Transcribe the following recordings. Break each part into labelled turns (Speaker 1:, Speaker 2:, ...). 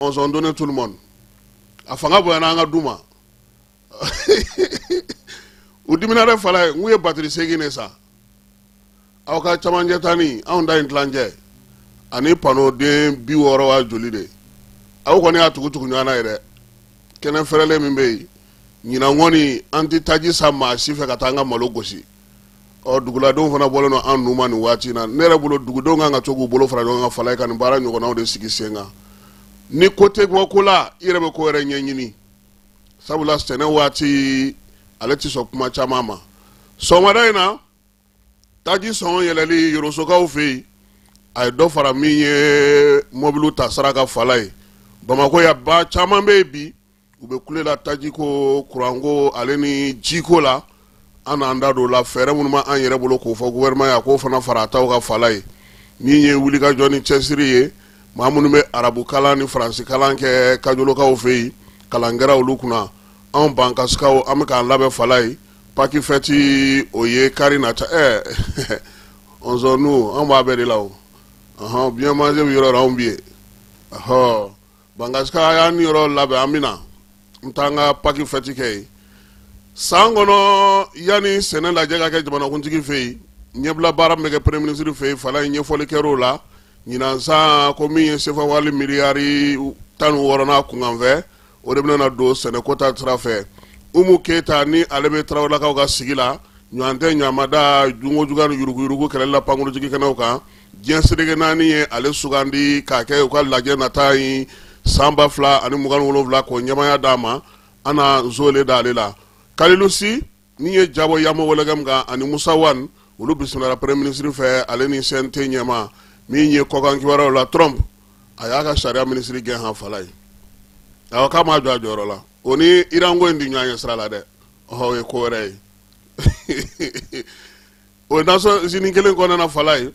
Speaker 1: mɔnsɔn donne tout le monde a fanga bonyana an ka du ma u dimina dɛ falayi n k'u ye batiri seegin de san aw ka camancɛ ta ni anw ta in tilancɛ ani panoden bi wɔɔrɔ wa joli de aw kɔni y'a tugu tugu ɲɔgɔn na yen dɛ kɛnɛ fɛrɛlen min bɛ yen ɲinan kɔni an tɛ taji san maa si fɛ ka taa an ka malo gosi ɔ duguladenw fana bɔlen don a nun ma nin waati in na ne yɛrɛ bolo dugudenw kan ka to k'u bolo fara ɲɔgɔn kan falayi ka nin baara ɲɔgɔnnaw de sigi sen kan ni ko tɛ bɔ ko la i yɛrɛ bɛ ko wɛrɛ ɲɛɲini sabula sɛnɛ waati ale tɛ sɔn kuma caman ma sɔgɔmada in na taji sɔngɔ yɛlɛli yorosokaw fɛ yen a ye dɔ fara min ye mɔbiliw ta sara kan falayi bamakɔ yan ba caman bɛ yen bi u bɛ kule la tajiko kuranko ale ni jiko la an n'an da don o la fɛɛrɛ minnu b'an yɛrɛ bolo k'o fɔ gouvernement ye k'o fana fara a ta kan falayi nin ye wulikajɔ ni cɛsiri ye maa minnu bɛ arabukalan ni faransikan kɛ kajolokaw fɛ yen kalan kɛra olu kunna anw bankasikaw an bɛ k'an labɛn falayi paki fɛti o ye kari nata ɛɛ n' an b'a bɛɛ de la o bima yɔrɔ anw bi ye ahɔ bankasikaw y'an niyɔrɔ labɛn an bɛna n taa an ka paki fɛti kɛ yen san kɔnɔ yanni sɛnɛ lajɛ ka kɛ jamanakuntigi fɛ yen ɲɛbila baara min bɛ kɛ premier ministre fɛ yen falayi ɲɛfɔli kɛra o la ɲinan san ko min ye sefawari miliyari tan ni wɔɔrɔ n'a kunkanfɛn o de bɛna don sɛnɛko ta sira fɛ umu keyita ni ale bɛ tarawelelakaw ka sigi la ɲɔgɔn tɛ ɲamada jogo juguya ni yuruguyurugu kɛlɛli la pankurunjigikɛnɛw kan diɲɛ seleke naani ye ale sugandi k'a kɛ u ka lajɛ nata in san ba fila ani mugan ni wolonwula k'o ɲɛmaaya d'a ma an na nzole da ale la kalilu si min ye ja bɔ yambo wologɛm kan ani musa wan olu bisimilala premier ministre fɛ ale ni cnt ɲɛmaa min ye kɔkan kibaruyaw la trump a y'a ka sariya minisiri gɛn han falayi awa k'a m'a jɔ a jɔyɔrɔ la o ni iranko in tɛ ɲɔgɔn ye sira la dɛ ɔhɔ o ye ko wɛrɛ ye o ye nations unies kelen kɔnɔna falayi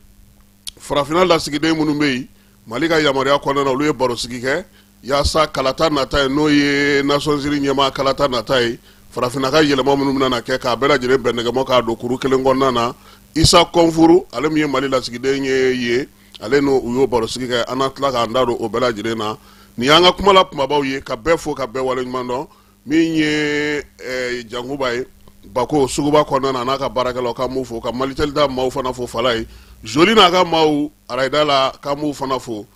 Speaker 1: farafinna lasigiden minnu bɛ yen mali ka yamaruya kɔnɔna olu ye barosigi kɛ yaasa kalata nata ye n'o ye nations unies ɲɛmaa kalata nata ye farafinna ka yɛlɛma minnu bɛna kɛ k'a bɛɛ lajɛlen bɛn nɛgɛmɔ k'a don kuru kelen kɔnɔna na isa kɔnfuru ale min ye mali lasigiden ye yen ale n'olu y'o barosigi kɛ an na tila k'an da don o bɛɛ lajɛlen na nin y'an ka kumala kumabaw ye ka bɛɛ fo ka bɛɛ waleɲuman dɔn min ye eh, jankuba ye bako suguba kɔnɔna na n'a ka baarakɛlaw k'an b'u fo ka malitɛli da maaw fana fo falayi zoli n'a ka maaw arayida la k'an b'u fana fo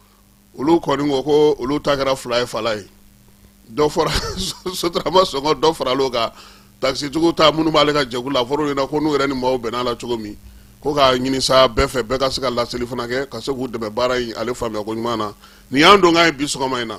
Speaker 1: olu kɔni ko ko olu ta kɛra fila ye falayi dɔ fɔra sotarama sɔngɔ dɔ farala o kan takisitigiw ta minnu b'ale ka jɛkulu la a fɔra u ɲɛna ko n'u yɛrɛ ni maaw bɛnna a la cogo min ko k'a ɲini sa bɛɛ fɛ bɛɛ ka se ka laseli fana kɛ ka se k'u dɛmɛ baara in ale faamuya ko ɲuman na nin y'an don k'a ye bi sɔgɔma in na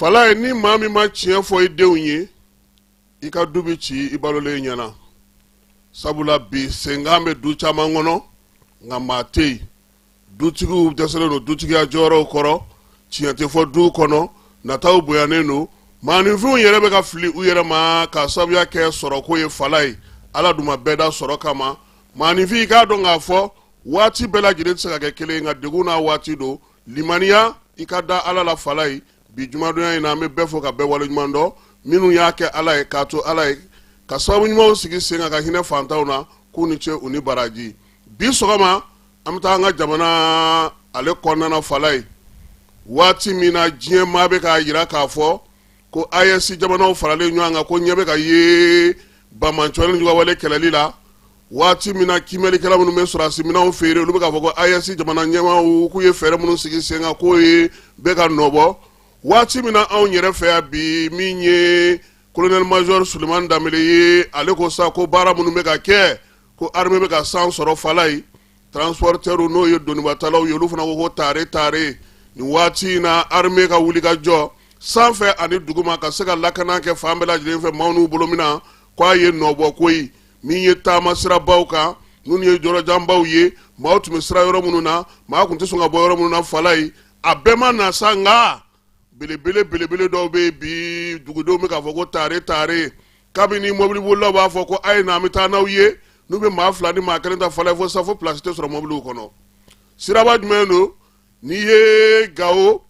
Speaker 1: falayi ni maa min ma tiɲɛ fɔ i denw ye i ka du bɛ ci i balolen ɲɛna sabula bi senkan bɛ du caman kɔnɔ nka maa tɛ yen dutigiw dɛsɛlen don dutigiya jɔyɔrɔw kɔrɔ tiɲɛ tɛ fɔ du kɔnɔ nataw bonyanen don maaninfinw yɛrɛ bɛ ka fili u yɛrɛ ma ka sabuya kɛ sɔrɔko ye falayi ala dun ma bɛɛ da sɔrɔ kama maaninfin i k'a dɔn k'a fɔ waati bɛɛ lajɛlen tɛ se ka kɛ kelen nka dɛgun n'a waati don limaniya i ka da ala la falayi bi jumadonya in na an bɛ bɛɛ fo ka bɛɛ wale ɲuman dɔn minnu y'a kɛ ala ye k'a to ala ye ka sababu ɲumanw sigi sen kan ka hinɛ fantanw na k'u ni ce u ni baraji bi sɔgɔma an bɛ taa an ka jamana ale kɔnɔna falayi waati min na diɲɛ maa bɛ k'a jira k'a fɔ ko AES jamanaw faralen ɲɔgɔn kan ko ɲɛ bɛ ka ye banbaanciwale ni juguwale kɛlɛli la waati min na kiimɛlikɛla minnu bɛ sɔrɔdasi minanw feere olu bɛ k'a fɔ ko AES jamana ɲɛmaaw k'u ye fɛɛrɛ minnu sigi sen kan k'o ye bɛ ka nɔbɔ waati min na anw yɛrɛ fɛ yan bi min ye kolonɛli mazɔri sulemani danbɛlɛ ye ale ko sa ko baara minnu bɛ ka kɛ ko armée bɛ ka san sɔrɔ falayi transporteurs n'o ye donibatalaw ye olu fana ko ko taare taare nin waati in na armée ka wuli ka jɔ sanfɛ ani duguma ka se ka lakana kɛ fan bɛɛ lajɛlen fɛ maaw n'u bolominan k'a ye nɔbɔ koyi min ye taama sirabaw kan ninnu ye yɔrɔjanbaw ye maaw tun bɛ siran yɔrɔ minnu na maa tun tɛ sɔn ka bɔ yɔrɔ minnu na falayi a bɛɛ ma na sa nka belebele belebele dɔw bɛ yen bi dugudenw bɛ k'a fɔ ko taare taare kabini mɔbilibolilaw b'a fɔ ko a ye na an bɛ taa n'aw ye n'u bɛ maa fila ni maa kelen ta falayi fo sa fo pilasi tɛ sɔrɔ mɔbiliw kɔnɔ siraba jumɛn don n'i ye gawo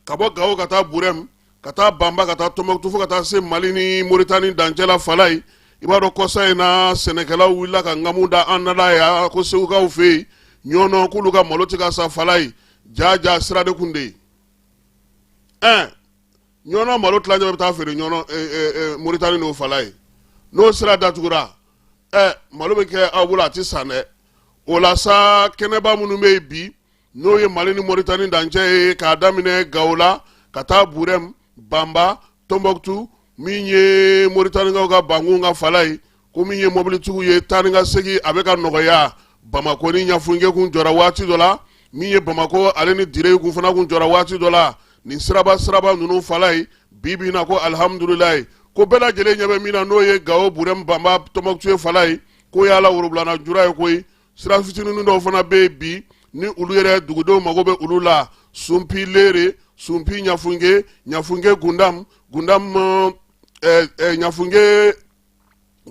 Speaker 1: ka bɔ gawo ka taa burɛm ka taa banba ka taa tɔnbɔkutu fo ka taa se mali ni moritani dancɛ la falayi i b'a dɔn kɔsa in na sɛnɛkɛlaw wulila ka ŋamu da an nada ya ko segukaw fɛ yen ɲɔnɔ k'olu ka malo tɛ ka san falayi jaa jaa sira de kun de ye ɛn ɲɔnɔ malo tilancɛ bɛ taa feere ɲɔnɔ e, e, e, moritani n'o falayi n'o sira datugura ɛ malo bɛ kɛ aw bolo a tɛ san dɛ o la sa kɛnɛba minnu bɛ yen bi n'o ye mali ni moritani dancɛ ye k'a daminɛ gawo la ka taa burɛm banba tɔnbɔkutu min ye moritanikaw ka bankun kan falayi ko min ye mobilitigiw ye taa ni ka segin a bɛ ka nɔgɔya bamakɔ ni ɲafunke kun jɔra waati dɔ la min ye bamakɔ ale ni dire kun fana kun jɔra waati dɔ la nin siraba siraba ninnu fala ye bi bi in na ko alihamudulilayi ko bɛɛ lajɛlen ɲɛ bɛ min na n'o ye gawo burɛmu banba tɔnbɔkutu ye fala ye k'o y'a la worobilana jura ye koyi sira fitininin dɔw fana bɛ yen bi ni olu yɛrɛ dugudenw mago bɛ olu la sunpi leere sunpi ɲafunke ɲafunke gundam gundam ɛɛ eh, ɛɛ eh, ɲafunke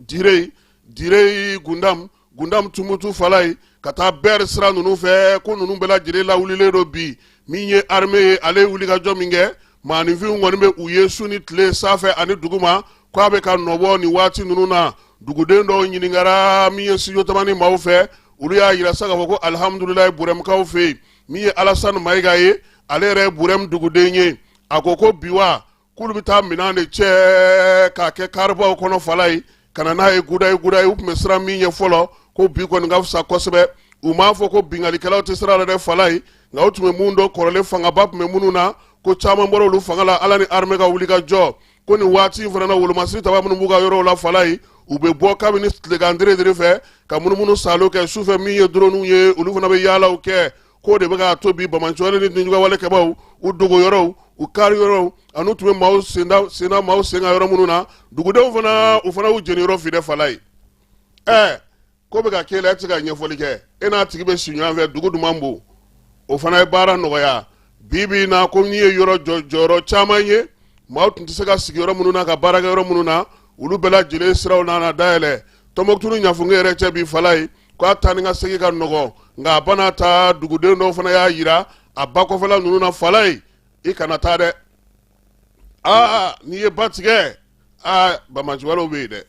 Speaker 1: dire dire gundam gundam tumutu fala ye ka taa bɛri sira ninnu fɛ ko ninnu bɛɛ lajɛlen lawulilen don bi min ye arme ye ale ye wulikajɔ min kɛ maaninfinw kɔni bɛ u ye su ni tile sanfɛ ani duguma ko a bɛ ka nɔbɔ nin waati ninnu na duguden dɔw ɲininkara min ye studio tamani maaw fɛ olu y'a yira sa k'a fɔ ko alihamudulilayi burɛmkaw fɛ yen min ye alasani mayiga ye ale yɛrɛ ye burɛm duguden ye a ko ko bi wa k'olu bɛ taa minɛn de cɛ k'a kɛ karibaw kɔnɔ fala ye ka na n'a ye guda ye guda ye u tun bɛ siran min ye fɔlɔ ko bi kɔni ka fisa kosɛbɛ u m'a fɔ ko binkalikɛlaw tɛ sira la dɛ fala ye nka u tun bɛ minnu dɔn kɔrɔlen fangaba tun bɛ minnu na ko caman bɔra olu fanga la ala ni arme ka wulikajɔ ko nin waati in fana na wolomasiri taba minnu b'u ka yɔrɔw la fala ye u bɛ bɔ kabini tilegan diredire fɛ ka munumunu salo kɛ sufɛ min ye doroniw ye olu fana bɛ yaalaw kɛ k'o de bɛ k'a to bi banbaanci wale ni dunjuga wale kɛbaaw u dogo yɔrɔw u kari yɔrɔw an'u tun bɛ maaw senda senda maaw senka yɔrɔ minnu na dugudenw fana u fana y'u jeniyɔrɔ fin dɛ fala ye ɛɛ ko bɛ ka k'e la e tɛ se ka ɲɛfɔli kɛ e n'a tigi bɛ si ɲɔgɔn fɛ dugu duman bon o fana ye baara nɔgɔya bi bi in na ko n'i ye yɔrɔ jɔ jɔyɔrɔ caman ye maaw tun tɛ se ka sigi yɔrɔ minnu na ka baara kɛ yɔrɔ minnu na olu bɛɛ lajɛlen siraw nana dayɛlɛ tɔnbɔkutu ni ɲafunge yɛrɛ cɛ bi fala ye ko a taa ni ka segin ka nɔgɔ nka a bɛɛ n'a ta duguden dɔw fana y'a yira a ba kɔfɛla ninnu na fala ye i kana taa dɛ aa n'i ye ba tigɛ aa banbaanci walew bɛ yen dɛ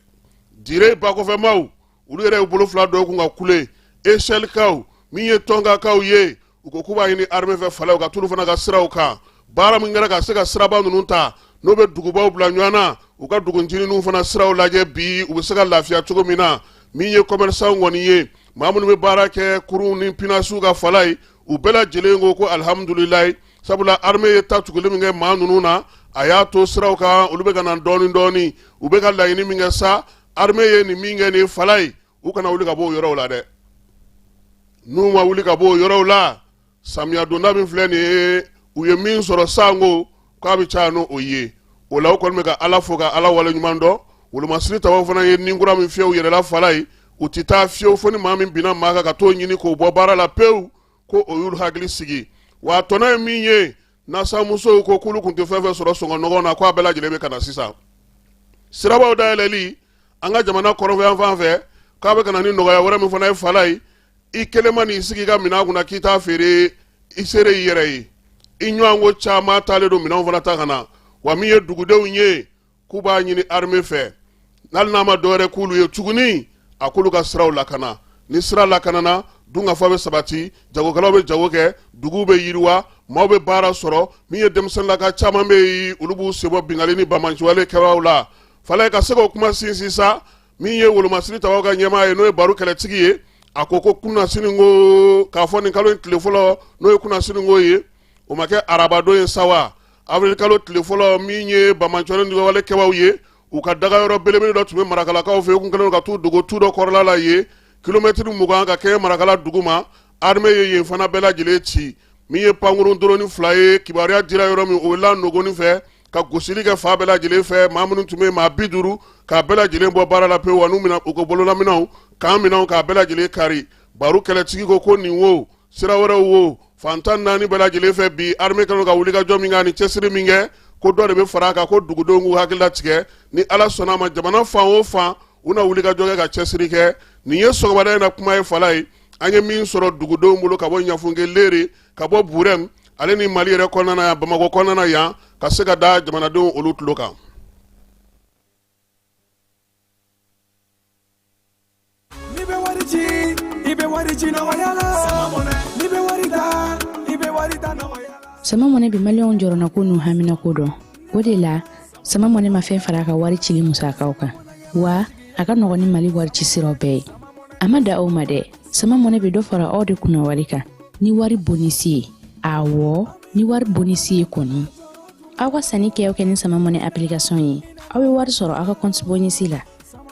Speaker 1: dire ba kɔfɛmaw olu yɛrɛ y'u bolo fila d'u kun ka kule esɛlikaw min ye tɔnkakaw ye u ko k'u b'a ɲini armée fɛ fala u ka t'olu fana ka siraw kan baara min kɛra ka se ka siraba ninnu ta n'o bɛ dugubaw bila ɲɔgɔn na u ka dugu ncinininw fana siraw lajɛ bi u bɛ se ka lafiya cogo min na min ye commerçanw kɔni ye maa minnu bɛ baara kɛ kurunw ni pinasiw kan fala ye u bɛɛ lajɛlen ko ko alihamudulilayi sabula armée ye ta tuguli min kɛ maa ninnu na a y'a to siraw kan olu bɛ ka na dɔɔni dɔɔni u bɛ ka laɲini min kɛ sa armée ye nin min kɛ nin fala ye u kana wuli ka bɔ o yɔrɔw la dɛ n'u ma wuli ka bɔ o yɔrɔw la samiya donda min filɛ nin ye u ye min sɔrɔ sanko k'a bɛ caya n'o o ye o la u kɔni bɛ ka ala fo ka ala wale ɲuman dɔn wolomasiri tabaw fana ye ni kura min fiyɛ u yɛrɛ la fala ye u tɛ taa fiyewu fo ni maa min binna maa kan ka t'o ɲini k'o bɔ baara la pewu ko o y'olu hakili sigi wa tɔnɔ ye min ye nasanmusow ko k'olu tun tɛ fɛn fɛn sɔrɔ sɔngɔ nɔgɔn na k'a bɛɛ lajɛlen bɛ ka na sisan sirabaw dayɛlɛli an ka jamana kɔrɔnfɛ yanfan fɛ k'a bɛ ka na ni nɔgɔya wɛrɛ min fana ye fala ye i kelen ma n'i sigi i ka minɛn kunna k'i t'a feere i seere i yɛrɛ ye i ɲɔgɔn ko caman taalen don minɛnw fana ta ka na wa min ye dugudenw ye k'u b'a ɲini armée fɛ n'ali n'a ma dɔwɛrɛ k'olu ye tuguni a k'olu ka siraw lakana ni sira lakanana dunkafa bɛ sabati jagokɛlaw bɛ jago kɛ duguw bɛ yiriwa maaw bɛ baara sɔrɔ min ye denmisɛnninlaka caman bɛ yen olu b'u sen bɔ binkanni ni banbaanciwale kɛbaaw la fala ka se k'o kuma sinsin sa min ye wolomasiri tabaw ka ɲɛmaa ye n'o ye baro kɛlɛtigi ye a ko ko kunasininko k'a fɔ nin kalo in tile fɔlɔ n'o ye kunasininko ye o ma kɛ arabadon ye sa wa avril kalo tile fɔlɔ min ye banbaanci ni juguwale kɛbaw ye u ka daga yɔrɔ belebele dɔ tun bɛ marakalakaw fɛ u tun kɛlen ka t'u dogo tu dɔ kɔrɔla la yen kilomɛtiri mugan ka kɛɲɛ marakala dugu ma arme ye yen fana bɛɛ lajɛlen ci min ye pankurun doroni fila ye kibaruya dira yɔrɔ min o la nogoni fɛ ka gosili kɛ fan bɛɛ lajɛlen fɛ maa minnu tun bɛ maa bi duuru k'a bɛɛ lajɛlen bɔ baara la pewu wa n'u mina u ka bololaminɛnw k'an minɛnw k'a bɛɛ lajɛlen kari baro kɛlɛtigi ko ko nin wo sira wɛrɛw wo fan tan ni naani bɛɛ lajɛlen fɛ bi armée kɛlen ka wulikajɔ min kɛ ani cɛsiri min kɛ ko dɔ de bɛ fara a kan ko dugudenw k'u hakili latigɛ ni ala sɔnna a ma jamana fan o fan u na wulikajɔ kɛ ka cɛsiri kɛ nin ye sɔgɔmada in na kuma ye fala ye an ye min sɔrɔ dugudenw bolo ka bɔ ɲafunke lere ka bɔ burɛm ale ni mali yɛrɛ kɔnɔna yan bamakɔ kɔnɔna yan ka se ka da jamanadenw olu tulo kan
Speaker 2: sama mɔnɛ bi maliyɛnw jɔrɔnako n'u haminako dɔn o de la sama mɔnɛ ma fɛn fara a ka wari cili musakaw kan wa a ka nɔgɔn ni mali wari ci siraw bɛɛ ye a ma dan o ma dɛ sama mɔnɛ bɛ dɔ fara aw de kunna wari kan ni wari bonisi ye awɔ ni wari bonisi ye kɔni aw ka sanni kɛ o kɛ ni sama mɔnɛ application ye aw bɛ wari sɔrɔ aw ka kɔnti bonisi la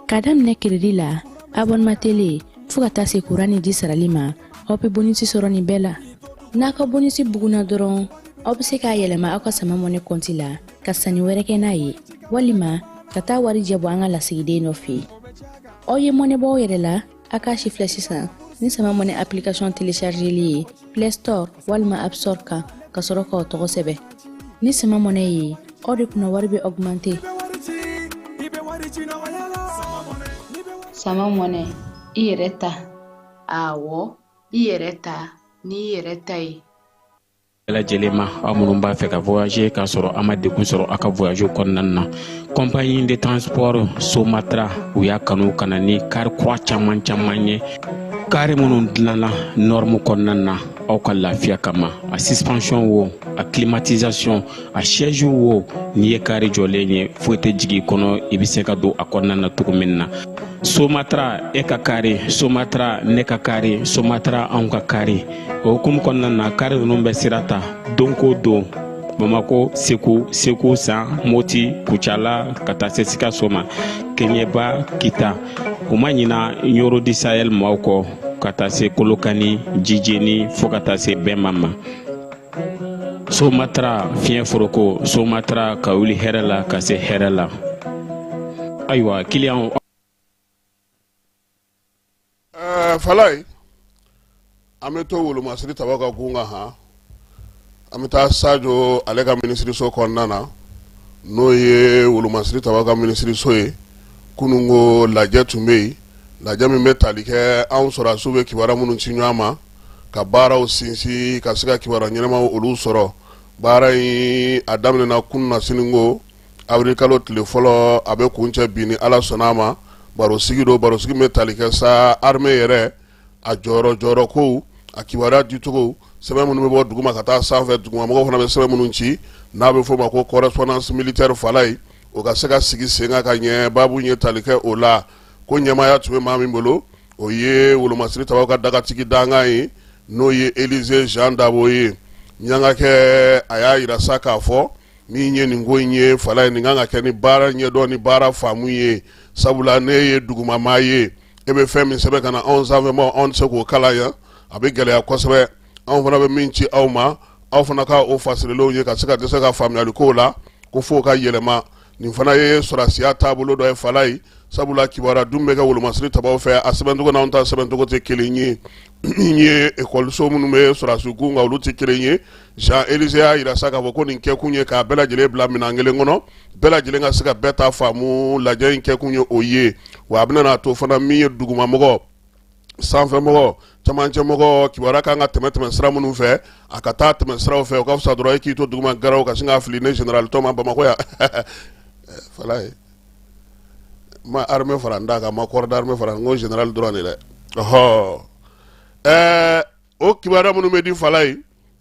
Speaker 2: ka daminɛ keredi la abɔnema tele fɔɔ ka taa se kuran ni ji sarali ma aw bɛ bonisi sɔrɔ nin bɛɛ la n'a ka bonisi bugunna dɔrɔn aw bɛ se k'a yɛlɛma aw ka sama mɔnɛ kɔnti la ka sanni wɛrɛ kɛ n'a ye walima ka taa warijɛ bɔ an ka lasigiden dɔ fɛ aw ye mɔnɛ bɔ aw yɛrɛ la a k'a sifilɛ sisan ni sama mɔnɛ application téléchargeli ye play store walima app store kan ka sɔrɔ k'aw tɔgɔ sɛbɛn ni sama mɔnɛ ye aw de kunna wari bɛ
Speaker 3: augmenter sama mɔnɛ i yɛrɛ ta awɔ i yɛrɛ ta n'i yɛrɛ ta ye lajɛlen
Speaker 4: ma aw minnu b'a fɛ ka voyager k'a sɔrɔ a ma degun sɔrɔ a ka voyage kɔnɔna na compagnie de transport somatra u y'a kanu ka na ni kari kura caman caman ye kari minnu dilanna nɔrmu kɔnɔna na aw ka lafiya kama a suspension wo a climatisation a siège wo n'i ye kari jɔlen ye foyi tɛ jigin kɔnɔ i bɛ se ka don a kɔnɔna na cogo min na somatra e ka kari somatra ne ka kari somatra anw ka kari o hukumu kɔnɔna na kari ninnu bɛ sira ta don ko don bamako segu segu san moti kucala ka taa se sikaso ma keɲɛba kita u ma ɲina ɲɔrɔ di sahel maaw kɔ ka taa se kolokani jijeni fɔɔ ka taa se bema ma somatara fiɲɛ foroko somatara ka wuli hɛrɛ la ka se hɛrɛ la ayiwa kiliyan
Speaker 1: eh, falayi an bɛ to wolomasiri tabaw ka gun kan han an bɛ taa sajo ale ka minisiriso kɔnɔna na n'o ye wolomasiri tabaw ka minisiriso ye kununko lajɛ tun bɛ yen lajɛ min bɛ tali kɛ anw sɔrɔdasiw bɛ kibaruya minnu ci ɲɔgɔn ma ka baaraw sinsin ka se ka kibaruya ɲɛnamaw olu sɔrɔ baara in a daminɛna kunasiniko avril kalo tile fɔlɔ a bɛ kuncɛ bi ni ala sɔnna a ma barosigi don barosigi min bɛ tali kɛ sa armée yɛrɛ a jɔyɔrɔ jɔyɔrɔ kow a kibaruya dicogo sɛbɛn minnu bɛ bɔ duguma ka taa sanfɛ dugumamɔgɔ fana bɛ sɛbɛn minnu ci n'a bɛ fɔ o ma ko correspondance militaire falayi o ka se ka sigi sen kan ka ɲɛ baabu ye tali kɛ o la ko ɲɛmaaya tun bɛ maa min bolo o ye wolomasiri tabaw ka dagatigi dankan ye n'o ye elize jean dabo ye ɲangakɛ a y'a yira sa k'a fɔ min ye nin ko in ye falayi nin kan ka kɛ ni baara ɲɛdɔn ni baara faamu ye sabula ne ye dugumamaa ye e bɛ fɛn min sɛbɛn ka na anw sanfɛmaaw anw tɛ se k'o kalan yan a bɛ gɛlɛya kosɛbɛ anw fana bɛ min ci aw ma aw fana ka o fasirilenw ye ka se ka dɛsɛ ka faamuyali kow la ko fo ka yɛlɛma nin fana ye sɔrɔdasiya taabolo dɔ ye falayi sabula kibaruya dun bɛ kɛ wolomasiri tabaw fɛ a sɛbɛncogo n'anw ta sɛbɛncogo tɛ kelen ye min ye ekɔliso minnu bɛ sɔrɔdasi kun kan olu tɛ kelen ye jean elize y'a yira sa k'a fɔ ko nin kɛkun ye k'a bɛɛ lajɛlen bila minɛn kelen kɔnɔ bɛɛ lajɛlen ka se ka bɛɛ ta faamu lajɛ in kɛkun ye o ye wa a bɛna n'a to fana min ye dugumamɔgɔ sanfɛmɔgɔ camancɛmɔgɔ kibaruya kan ka tɛmɛ tɛmɛ sira minnu fɛ a ka taa tɛmɛ siraw fɛ o ka fisa dɔrɔn i k'i to duguma garaw ka sin k'a fili ne général tɔma bamakɔ yan falayi ma armée fara n da kan ma corps d'armée fara n ko général dɔrɔn de dɛ ɔhɔ ɛɛ o kibaruya minnu bɛ di fala ye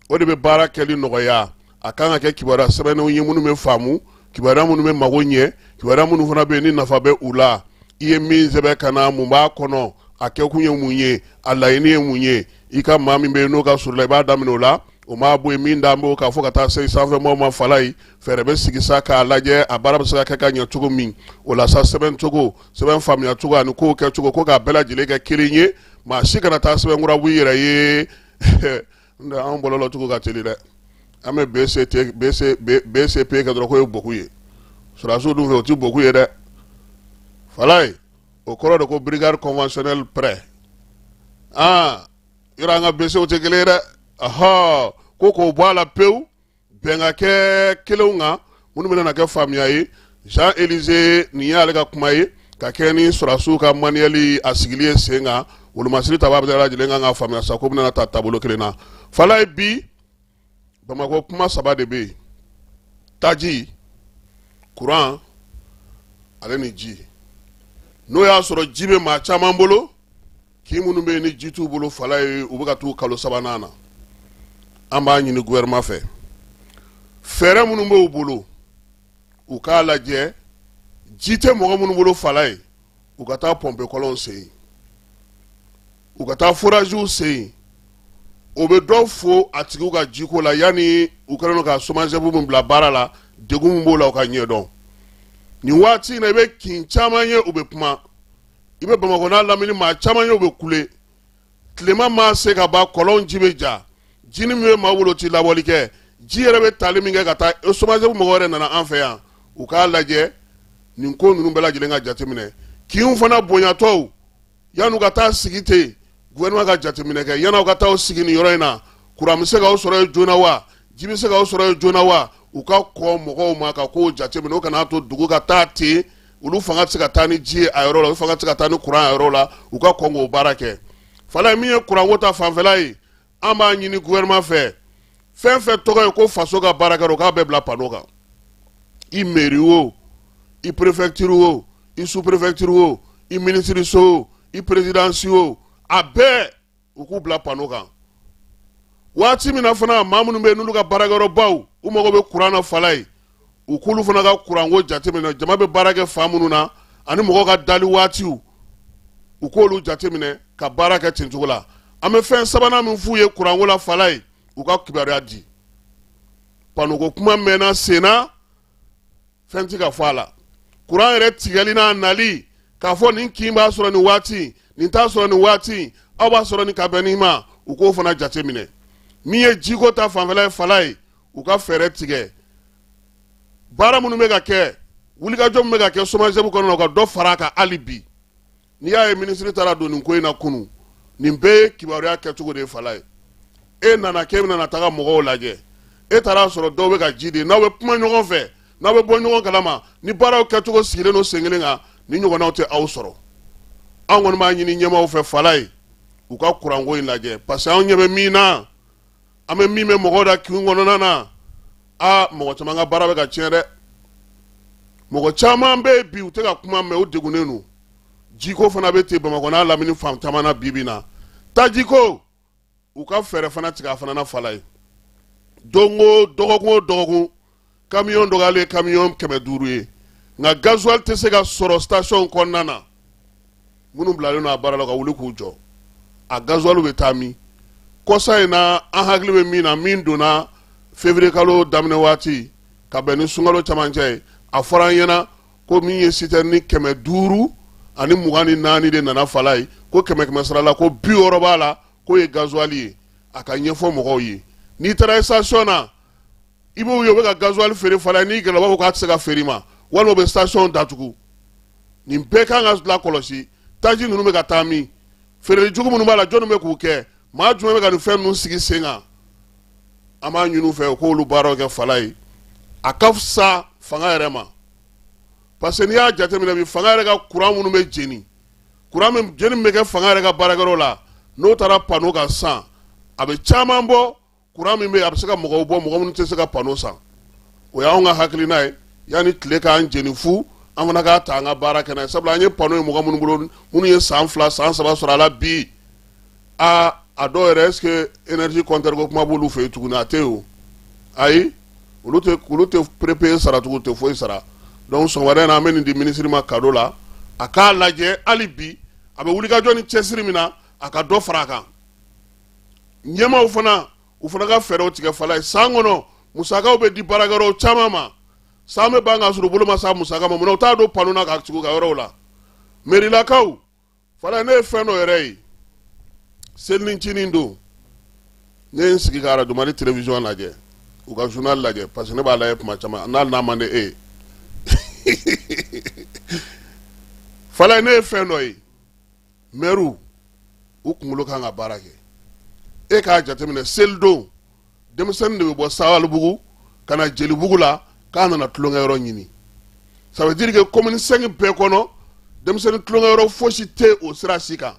Speaker 1: o de bɛ baara kɛli nɔgɔya a kan ka kɛ kibaruya sɛbɛnnenw ye minnu bɛ faamu kibaruya minnu bɛ mago ɲɛ kibaruya minnu fana bɛ yen ni nafa bɛ u la i ye min sɛbɛn ka na mun b'a kɔnɔ a kɛkun ye mun ye a laɲini ye mun ye i ka maa min bɛ yen n'o ka surun i la i b'a daminɛ o la o ma bɔ yen min da b'o kan fo ka taa se sanfɛmɔgɔw ma fala ye fɛɛrɛ bɛ sigi sa k'a lajɛ a baara bɛ se ka kɛ ka ɲɛ cogo min o la sa sɛbɛn cogo sɛbɛn faamuya cogo ani kow kɛ cogo ko k'a bɛɛ lajɛlen kɛ kelen ye maa si kana taa sɛbɛn kura b'i yɛrɛ ye an bɔlɔ cogo ka teli dɛ an bɛ bcp kɛ dɔrɔn k'o ye beaucoup ye sɔrɔdasiw dun fɛ o tɛ beaucoup ye dɛ fala ye o kɔrɔ de ko brigade conventionnelle prêt aa yɔrɔ an ka bcw tɛ kelen ye dɛ ɔhɔ ko k'o bɔ a la pewu bɛn ka kɛ kelenw kan minnu bɛna kɛ faamuya ye jean elize nin y'ale ka kuma ye ka kɛɲɛ ni sɔrɔdasiw ka manuel a sigili ye sen kan wolomasiri ta b'a bɛɛ lajɛlen kan ka faamuya sa ko bɛna taa taabolo kelen na fala ye bi bamakɔ kuma saba de bɛ yen taji kuran ale ni ji n'o y'a sɔrɔ ji bɛ maa caman bolo Kin minnu bɛ yen ni ji t'u bolo fala ye u bɛ ka t'u kalo sabanan na an b'a ɲini gouvernement fɛ fɛɛrɛ minnu b'u bolo u k'a lajɛ ji tɛ mɔgɔ minnu bolo fala ye u ka taa pɔnpe kɔlɔnw sen u ka taa foraziw sen o bɛ dɔ fo a tigiw ka jiko la yanni u kɛlen don ka somagep min bila baara la degun min b'o la u ka ɲɛdɔn nin waati in na i bɛ kin caman ye u bɛ kuma i bɛ bamakɔ n'a lamini maa caman ye u bɛ kule tilema maa se kaban kɔlɔn ji bɛ ja jinin min bɛ maa bolo tɛ laboli kɛ ji yɛrɛ bɛ taali min kɛ ka taa e somagep mɔgɔ wɛrɛ nana an fɛ yan u k'a lajɛ nin ko ninnu bɛɛ lajɛlen ka jateminɛ kinw fana bonyatɔw yan'u ka taa sigi ten gouvernement ka jateminɛ kɛ yan'aw ka taa sigi nin yɔrɔ in na kuran bɛ se k'aw sɔrɔ yen joona wa ji bɛ se k'aw sɔrɔ yen joona wa u ka kɔn mɔgɔw ma ka kow jateminɛ o kana to dugu ka taa ten olu fanga tɛ se ka taa ni ji ye a yɔrɔ la olu fanga tɛ se ka taa ni kuran a yɔrɔ la u ka kɔn k'o baara kɛ fala min ye kuranko ta fanfɛla ye an b'a ɲini gouvernement fɛ fɛn fɛn tɔgɔ ye ko faso ka baarakɛyɔrɔ u k'a bɛɛ bila pano kan i meri o i prefecture o i sous prefecture o i minisiriso o i perezidansi o a bɛɛ u k'u bila pano kan waati min na fana maa minnu bɛ yen n'olu ka baarakɛyɔrɔbaw u mago bɛ kuran na fala ye u k'olu fana ka kuranko jateminɛ jama bɛ baara kɛ fan minnu na ani mɔgɔw ka dali waatiw u k'olu jateminɛ ka baara kɛ ten cogo la an bɛ fɛn sabanan min f'u ye kuranko la fala ye u ka kibaruya di panoko kuma mɛnna senna fɛn ti ka fɔ a la kuran yɛrɛ tigɛli n'a nali k'a fɔ nin kin b'a sɔrɔ nin waati nin t'a sɔrɔ nin waati aw b'a sɔrɔ nin ka bɛn nin ma u k'o fana jateminɛ min ye jiko ta fanfɛla ye walayi u ka fɛɛrɛ tigɛ baara minnu bɛ ka kɛ wulikajɔ min bɛ ka kɛ SOMAGEP kɔnɔ u ka dɔ fara a kan hali bi n'i y'a ye minisiri taara don nin ko in na kunun nin bɛɛ ye kibaruya kɛcogo de ye walayi e nana k'e bɛna taga mɔgɔw lajɛ e taara a sɔrɔ dɔw bɛ ka ji de n'aw bɛ kuma ɲɔgɔn fɛ n'aw bɛ bɔ ɲɔgɔn kalama ni baaraw kɛcogo sigilen don sen kelen kan nin ɲɔgɔnnaw tɛ aw sɔrɔ anw kɔni b'a ɲini ɲɛmaaw fɛ walayi u ka kuranko in lajɛ parce que anw ɲɛ bɛ min na an bɛ min mɛn mɔgɔ da kin kɔnɔna na aa mɔgɔ caman ka baara bɛ ka tiɲɛ dɛ mɔgɔ caman bɛ yen bi u tɛ ka kuma mais u degunnen don jiko fana bɛ ten bamakɔ n'a lamini fan caman na bi bi in na tajiko u ka fɛɛrɛ fana tigɛ a fana na walayi don o dɔgɔkun o dɔgɔkun kamiyɔn dɔgɔyalen ye kamiyɔn kɛmɛ duuru ye nka gazuwali tɛ se ka sɔrɔ sitasiyɔn kɔnɔna na minnu bilalen don a baara la ka wuli k'u jɔ a gazuwaliw bɛ taa min kɔsa in na an hakili bɛ min na min donna février kalo daminɛ waati ka bɛn ni sunkalo camancɛ ye a fɔra an ɲɛna ko min ye sitɛrɛni kɛmɛ duuru ani mugan ni naani de nana walayi ko kɛmɛ kɛmɛ sara la ko bi wɔɔrɔ b'a la k'o ye gazuwali ye a k'a ɲɛfɔ mɔgɔw ye n'i taara station na i b'u ye u bɛ ka gasoil feere fana n'i gɛrɛla u b'a fɔ k'a tɛ se ka feere i ma walima u bɛ station datugu nin bɛɛ kan ka lakɔlɔsi taji ninnu bɛ ka taa min feereli jugu minnu b'a la jɔnni bɛ k'u kɛ maa jumɛn bɛ ka nin fɛn ninnu sigi sen kan an b'a ɲini u fɛ u k'olu baaraw kɛ walayi a ka fisa fanga yɛrɛ ma parce que n'i y'a jateminɛ bi fanga yɛrɛ ka courant minnu bɛ jeni courant min jeni bɛ kɛ fanga yɛrɛ ka baarakɛyɔrɔ la n'o taara panneau kan sisan a bɛ caman bɔ kuran min bɛ yen a bɛ se ka mɔgɔw bɔ mɔgɔ minnu tɛ se ka panneau san o y'anw ka hakilina ye yanni tile k'an jeni fu an fana k'a ta an ka baara kɛ n'a ye sabula an ye panneau ye mɔgɔ minnu bolo minnu ye san fila san saba sɔrɔ a la bi aa a dɔw yɛrɛ est ce que énergie compteur ko kuma b'olu fɛ yen tuguni a tɛ yen o ayi olu tɛ olu tɛ prépayé sara tugun u tɛ foyi sara donc sɔgɔmada in na an bɛ nin di minisiri ma cadeau la a k'a lajɛ hali bi a bɛ wulikajɔ ni cɛsiri min na a ka dɔ fara a kan ɲɛmaaw fana u fana ka fɛɛrɛw tigɛ walayi san kɔnɔ musakaw bɛ di baarakɛyɔrɔw caman ma san bɛ ban k'a sɔrɔ u bolo ma s'a musaka ma munna u t'a don panneau na k'a tugu u ka yɔrɔw la mɛrilakaw walayi ne ye fɛn dɔ yɛrɛ ye selincinin don ne ye n sigi ka arajo mali telewisiyɔn lajɛ u ka journal lajɛ parce que ne b'a lajɛ tuma caman n'a n'a man di e ye walayi ne ye fɛn dɔ ye mɛriw u kunkolo kan ka baara kɛ e k'a jateminɛ selidon denmisɛnnin de bɛ bɔ sabalibugu ka na jelibugu la k'a nana tulonkɛyɔrɔ ɲini ça veut dire que commune 5 bɛɛ kɔnɔ denmisɛnnin tulonkɛyɔrɔ fosi tɛ o sira si kan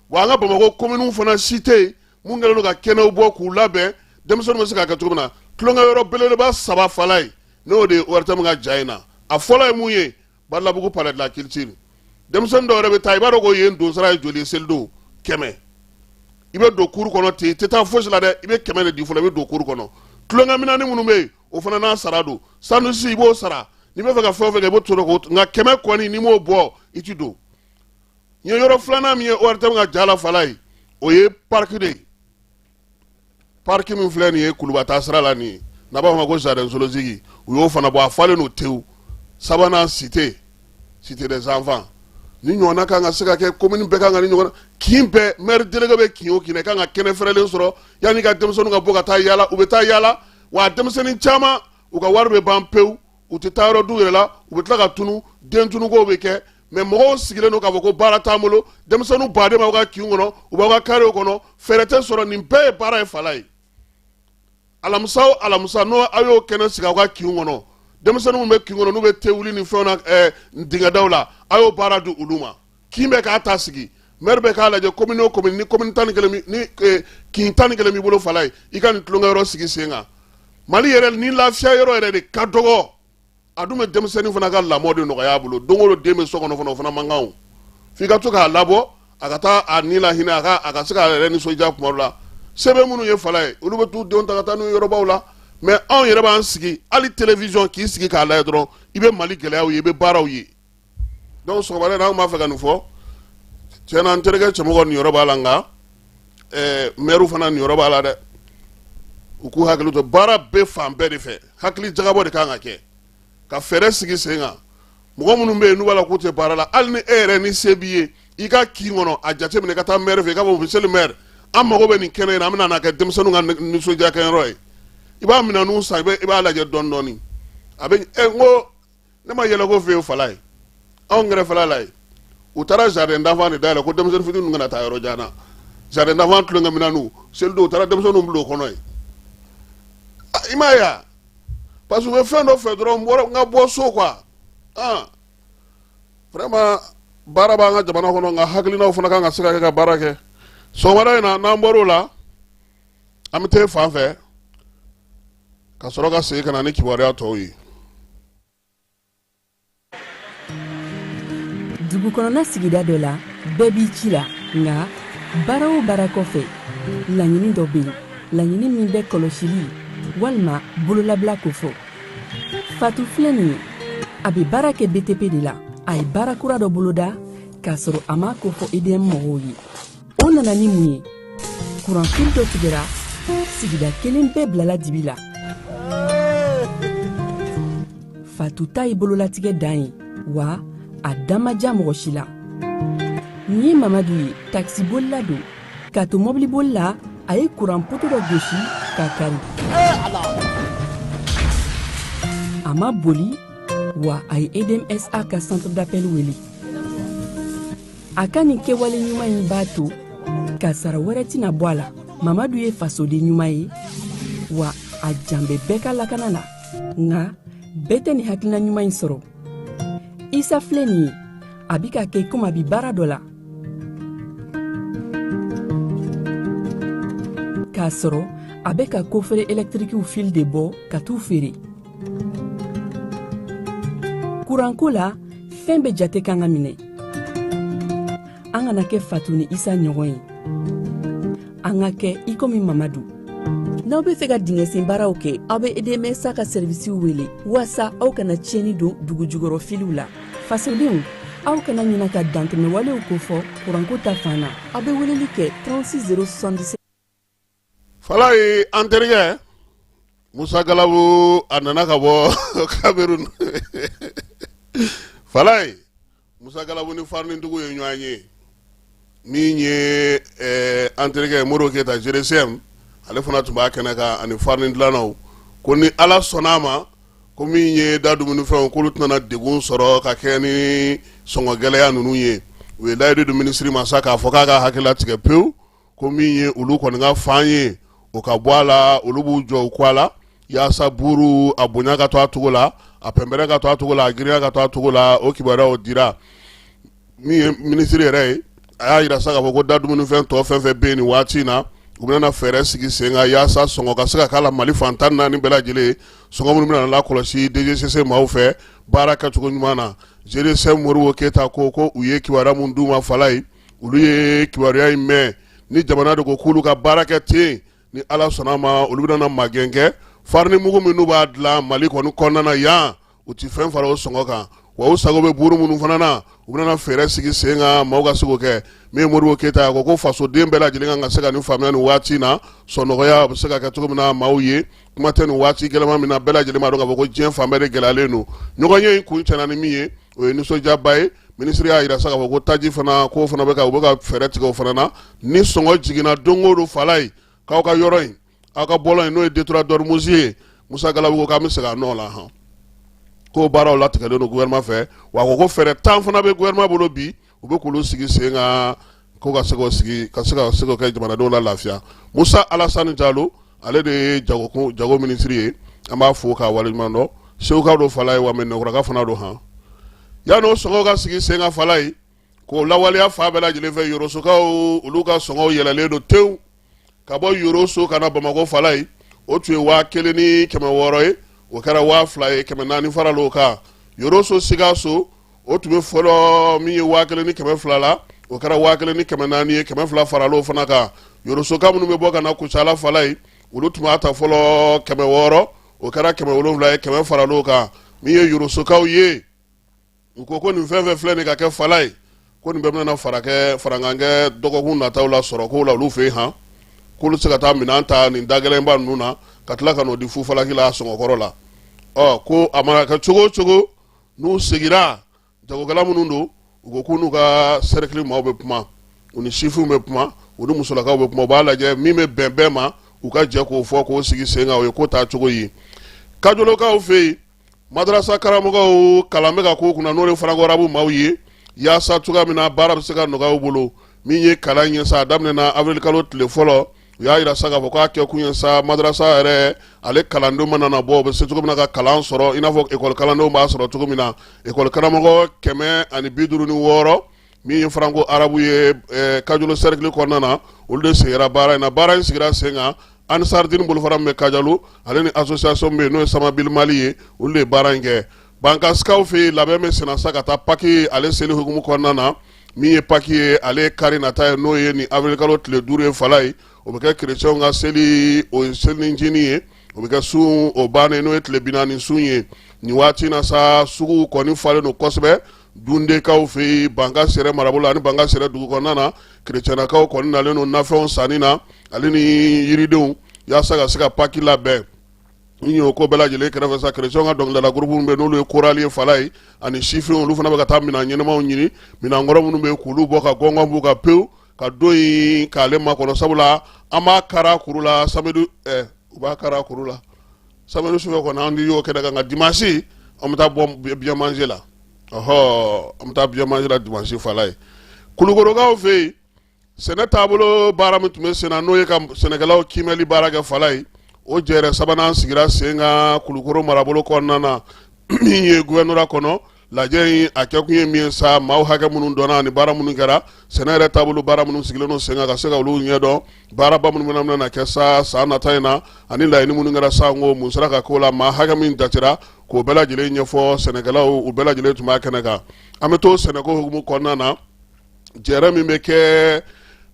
Speaker 1: wa an ka bamakɔ kominiw fana si tɛ mun kɛlen don ka kɛnɛw bɔ k'u labɛn denmisɛnninw bɛ se k'a kɛ cogo min na tulonkɛyɔrɔ belebeleba saba falayi n'o de ye ORTM ka ja in na a fɔlɔ ye mun ye badalabugu palais de la culture denmisɛnnin dɔw yɛrɛ bɛ taa i b'a dɔn ko yen donsara ye joli ye selidon kɛmɛ i bɛ don kuru kɔnɔ ten i tɛ taa fosi la dɛ i bɛ kɛmɛ de di fɔlɔ i bɛ don kuru kɔnɔ tulonkɛminani minnu bɛ yen o fana n'a sara don sanusi i b'o sara n'i bɛ fɛ ka fɛn o fɛn kɛ i b'o to k'o nka kɛmɛ kɔni n'i m'o bɔ i ti don n ye yɔrɔ filanan min ye ORTM ka ja la falayi o ye pariki de ye pariki min filɛ nin ye kuluba taa sira la nin ye n'a b'a fɔ ma ko jardin zoologique u y'o fana bɔ a falen don tewu sabanan cité cité des enfants nin ɲɔgɔnna kan ka se ka kɛ komini bɛɛ kan ka ni ɲɔgɔn kin bɛɛ mɛri delege bɛ kin o kin kan ka kɛnɛ fɛrɛlen sɔrɔ yanni ka denmisɛnninw ka bɔ ka taa yaala u bɛ taa yaala wa denmisɛnnin caman u ka wari bɛ ban pewu u tɛ taa yɔrɔ d'u yɛrɛ la u bɛ tila ka tunu den tunukow bɛ kɛ mɛ mɔgɔw sigilen don k'a fɔ ko baara t'an bolo denmisɛnninw baden b'aw ka kinw kɔnɔ u b'aw ka karew kɔnɔ fɛɛrɛ tɛ sɔrɔ nin bɛɛ ye baara ye falayi alamisa o alamisa n'o aw y'o kɛnɛ sigi aw ka kinw kɔnɔ denmisɛnninw bɛ kin kɔnɔ n'u bɛ te wuli ni fɛnw na eh, dingɛdaw la a y'o baara di olu ma kin bɛ k'a ta sigi mɛri bɛ k'a lajɛ komini o komini ni komini tan ni kelen ni eh, kin tan ni kelen b'i bolo falayi i ka nin tulonkɛyɔrɔ sigi sen kan mali yɛrɛ ni lafiya yɔrɔ yɛrɛ de ka dɔgɔ a dun bɛ denmisɛnnin fana ka lamɔ de nɔgɔya a bolo don o don den bɛ so kɔnɔ fana o fana man kan o f'i ka to k'a labɔ a ka taa a ni lahinɛ a ka a ka se k'a yɛrɛ nisɔndiya kuma dɔ la se bɛ minnu ye falayi olu bɛ t'u denw ta ka taa n'u ye yɔrɔbaw la mɛ anw yɛrɛ b'an sigi hali télévision k'i sigi k'a lajɛ dɔrɔn i bɛ mali gɛlɛyaw ye i bɛ baaraw ye donc sɔgɔmada in na an b'a fɛ ka nin fɔ tiɲɛ na n terikɛ cɛmɔgɔ niyɔrɔ b'a la nka mɛri fana niyɔrɔ b'a la dɛ u k'u hakili to baara bɛ fan bɛɛ de fɛ hakili jagabɔ de kan ka kɛ ka fɛɛrɛ sigi sen kan mɔgɔ minnu bɛ yen n'u b'a la k'u tɛ baara la hali ni e yɛrɛ ni se b'i ye i ka kin kɔnɔ a jateminɛ i ka taa mɛri fɛ i k'a fɔ monsieur le maire an mago bɛ nin kɛnɛ in na an bɛn'a kɛ denmisɛnnin ka nisɔndiya kɛyɔrɔ ye i b'a minɛnw san i b'a lajɛ dɔɔni dɔɔni a bɛ ko ne ma yɛlɛko fɛn ye falayi anw kɛrɛfɛla la yen u taara jardin d'enfant de dayɛlɛ ko denmisɛnnin fitinin kana taa yɔrɔ jan na jardin d'enfant tulonkɛ minɛnw selidon u taara denmisɛnninw bila o kɔnɔ yen i m'a ye wa parce que u bɛ fɛn dɔ fɛ dɔrɔn n ka bɔ so quoi ah vraiment baara b'an ka jamana kɔnɔ nka hakilinaw fana kan ka se ka kɛ ka baara kɛ sɔgɔmada in na n'an bɔr'o la an bɛ taa fan fɛ ka sɔrɔ ka segin ka na ni kibaruya tɔw ye
Speaker 5: dugu kɔnɔna sigida dɔ la bɛɛ b'i ci la nka baara o baara kɔfɛ laɲini dɔ bɛ yen laɲini min bɛ kɔlɔsili walima bololabila ko fɔ fatu filɛ nin ye a bɛ baara kɛ btp de la a ye baara kura dɔ boloda k'a sɔrɔ a m'a ko fɔ edm mɔgɔw ye o nana ni mun ye kuranfili dɔ tigɛra sigida kelen bɛɛ bilala dibi la fatu ta ye bololatigɛ dan ye wa a dan ma diya mɔgɔ si la nin ye mamadu ye takisibolila don k'a to mɔbiliboli la a ye kuran poto dɔ gosi k'a kari a ma boli wa a ye edmsa ka centre d'appel wele a ka nin kɛwale ɲuman in b'a to ka sara wɛrɛ tɛna bɔ a la mamadu ye fasoden ɲuman ye wa a jan bɛ bɛɛ ka lakana la nka bɛɛ tɛ nin hakilina ɲuman in sɔrɔ isa filɛ nin ye a bi k'a kɛ komi a bi baara dɔ la k'a sɔrɔ a bɛ ka kofere ɛlɛtirikiw fili de bɔ ka t'u feere kuranko la fɛn bɛɛ jate kan ka minɛ an kana kɛ fatu ni isa ɲɔgɔn ye an ka kɛ i komi mamadu n'aw b'a fɛ ka dingɛsen baaraw kɛ aw be edmsa ka sɛrivisiw wele waasa aw kana tiɲɛni don dugu jukɔrɔ filiw la fasodenw aw kana ɲina ka dantɛmɛwalew kofɔ kuranko ta fan na aw be weleli kɛ 36 077
Speaker 1: falayi an terikɛ musa galabu a nana ka bɔ kamerun falayi musa galabu ni farinidugu ye ɲɔgɔn ye min ye eh, an terikɛ modibo keyita gdcm ale fana tun b'a kɛnɛ kan ani farini dilannaw ko ni ala sɔnna a ma ko min ye da dumunifɛnw k'olu tɛna degun sɔrɔ ka kɛ ni sɔngɔ gɛlɛya ninnu ye u ye layidu di minisiri ma sa k'a fɔ k'a ka hakili latigɛ pewu ko min ye olu kɔni ka fan ye o ka bɔ a la olu b'u jɔ u kɔ la yaasa buuru a bonya ka to a cogo la a pɛnpɛrɛ ka to a cogo la a girinya ka to a cogo la o kibaruyaw dira min ye minisiri yɛrɛ ye a y'a yira sa k'a fɔ ko da dumunifɛn tɔ fɛn fɛn bɛ yen nin waati in na u bɛna fɛɛrɛ sigi sen kan yaasa sɔngɔ ka se ka k'a la mali fan tan naani bɛɛ lajɛlen sɔngɔ minnu bɛna lakɔlɔsi dgcc maaw fɛ baara kɛcogo ɲuman na gdcm modibo keyita ko ko u ye kibaruya minnu d'u ma falayi olu ye kibaruya in mɛn ni jamana de ko k'olu ka baara kɛ ten ni ala sɔnna ma olu bɛna magɛn kɛ farini mugu minnu b'a dilan mali kɔni kɔnɔna na yan u ti fɛn fara o sɔngɔ kan wa u sago bɛ buuru minnu fana na u bɛna fɛɛrɛ sigi sen kan maaw ka se k'o kɛ min ye moribo keyita a ko ko fasoden bɛɛ lajɛlen kan ka se ka nin faamuya nin waati na sɔnɔgɔya bɛ se ka kɛ cogo min na maaw ye kuma tɛ nin waati gɛlɛma min na bɛɛ lajɛlen b'a dɔn k'a fɔ ko diɲɛ fan bɛɛ de gɛlɛyalen don ɲɔgɔnye in kuncɛna ni min ye o ye nisɔndiyaba ye minisiri y'a yira sa k'a fɔ ko taji fana k'o fana bɛ ka u bɛ ka fɛɛrɛ tigɛ o fana na ni sɔngɔ jiginna don o don fala ye k'aw ka yɔrɔ in aw ka bɔlɔn in n'o ye détroit d'ormuz ye musa galabu ko k'an bɛ segin a nɔ la han k'o baaraw latigɛlen don gouvernement fɛ wa a ko ko fɛɛrɛ tan fana bɛ gouvernement bolo bi u bɛ k'olu sigi sen kan ko ka se k'o sigi ka se k'o kɛ jamanadenw la lafiya musa alasani jalo ale de ye jago minisiri ye an b'a fo k'a waleɲuman dɔn seguka don fala ye wa mɛnɛkuraka fana don han yann'o sɔngɔw ka sigi sen ka fala ye k'o lawaleya fan bɛɛ lajɛlen fɛ yorosokaw olu ka sɔngɔw yɛlɛlen don tewu ka bɔ yoroso ka na bamakɔ fala ye o tun ye waa kelen ni kɛmɛ wɔɔrɔ ye o kɛra waa fila ye kɛmɛ naani faral'o kan yoroso sikaso o tun bɛ fɔlɔ min ye waa kelen ni kɛmɛ fila la o kɛra waa kelen ni kɛmɛ naani ye kɛmɛ fila faral'o fana kan yorosoka minnu bɛ bɔ ka na kucala fala ye olu tun b'a ta fɔlɔ kɛmɛ wɔɔrɔ o kɛra kɛmɛ wolonwula ye kɛmɛ faral'o kan min ye yorosokaw ye u ko ko nin fɛn fɛn filɛ nin ka kɛ fala ye ko nin bɛɛ bɛna farankan kɛ dɔgɔkun nataw la sɔrɔ ko la olu fɛ yen han k'olu se ka taa minɛn ta nin dagɛlɛnba ninnu na ka tila ka n'o di fufalaki la sɔngɔkɔrɔ la ɔ ko a mana kɛ cogo o cogo n'u sigira jagokɛla minnu don u ko k'u n'u ka sɛrɛkili maaw bɛ kuma u ni sifinw bɛ kuma u ni musolakaw bɛ kuma u b'a lajɛ min bɛ bɛn bɛɛ ma u ka jɛ k'o fɔ k'o sigi sen kan o ye ko taa cogo ye kajolokaw fɛ yen madarasa karamɔgɔw kalan bɛ ka k'u kunna n'o ye faranko arabu maaw ye yaasa cogoya min na baara bɛ se ka nɔgɔya u bolo min ye kalan ye sa a daminɛna avril kalo tile fɔlɔ u y'a yira sa k'a fɔ k'a kɛkun ye sa madarasa yɛrɛ ale kalandenw mana na bɔ u bɛ se cogo min na ka kalan sɔrɔ i n'a fɔ ekɔli kalandenw b'a sɔrɔ cogo min na ekɔli karamɔgɔ kɛmɛ ani bi duuru ni wɔɔrɔ min ye faranko arabu ye eh, kajolo sɛrikili kɔnɔna na olu de sigira baara in na baara in sigira sen kan ansardini bolofara min bɛ kajolo ale ni association bɛ yen n'o ye samabili mali ye olu de ye baara in kɛ bankasikaw fɛ yen labɛn bɛ senna sa ka taa paki ale seli hukumu kɔnɔna na min ye paki ye ale ye kari nata ye n'o ye nin avril kalo tile duuru ye fala ye o bɛ kɛ kerecɛnw ka seli o ye selincini ye o bɛ kɛ sun o bannen n'o ye tile bi naani sun ye nin waati na sa suguw kɔni falen don kosɛbɛ dundekaw fɛ yen banka sɛrɛ marabolo ani banka sɛrɛ dugu kɔnɔna na kerecɛnakaw kɔni nalen don nafɛnw sanni na ale ni yiridenw yaasa ka se ka paki labɛn n y'o ko bɛɛ lajɛlen kɛrɛfɛ sa kerecɛnw ka dɔnkilidala gurupu minnu bɛ n'olu ye korali ye falayi ani sifinw olu fana bɛ ka taa minɛn ɲɛnamaw ɲini minɛn kɔrɔ minnu bɛ k'olu bɔ ka gɔngɔn b'u ka pewu ka don in k'ale makɔnɔ sabula an b'a kara kuru la samedi eh, u b'a kara kuru la samedi sufɛ kɔni an y'o kɛ ka nka dimanche an bɛ taa bɔ bien manger la ɔhɔ an bɛ taa bien manger la dimanche falayi kulukorokaw fɛ yen sɛnɛ taabolo baara min tun bɛ sen na n'o ye ka sɛnɛkɛlaw kiimɛli baara kɛ falayi o jɛrɛ sabanan sigira sen kan kulukoro marabolo kɔnɔna na min ye gouvernorat kɔnɔ lajɛ in a kɛkun ye min ye sa maaw hakɛ minnu dɔnna ani baara minnu kɛra sɛnɛ yɛrɛ taabolo baara minnu sigilen don sen kan ka se ka olu ɲɛdɔn baaraba minnu bɛna na kɛ sa san nata in na ani laɲini minnu kɛra sa ko mun sera ka k'o la maa hakɛ min jatera k'o bɛɛ lajɛlen ɲɛfɔ sɛnɛkɛlaw u bɛɛ lajɛlen tun b'a kɛnɛ kan an bɛ to sɛnɛko hukumu kɔnɔna na jɛrɛ min bɛ kɛ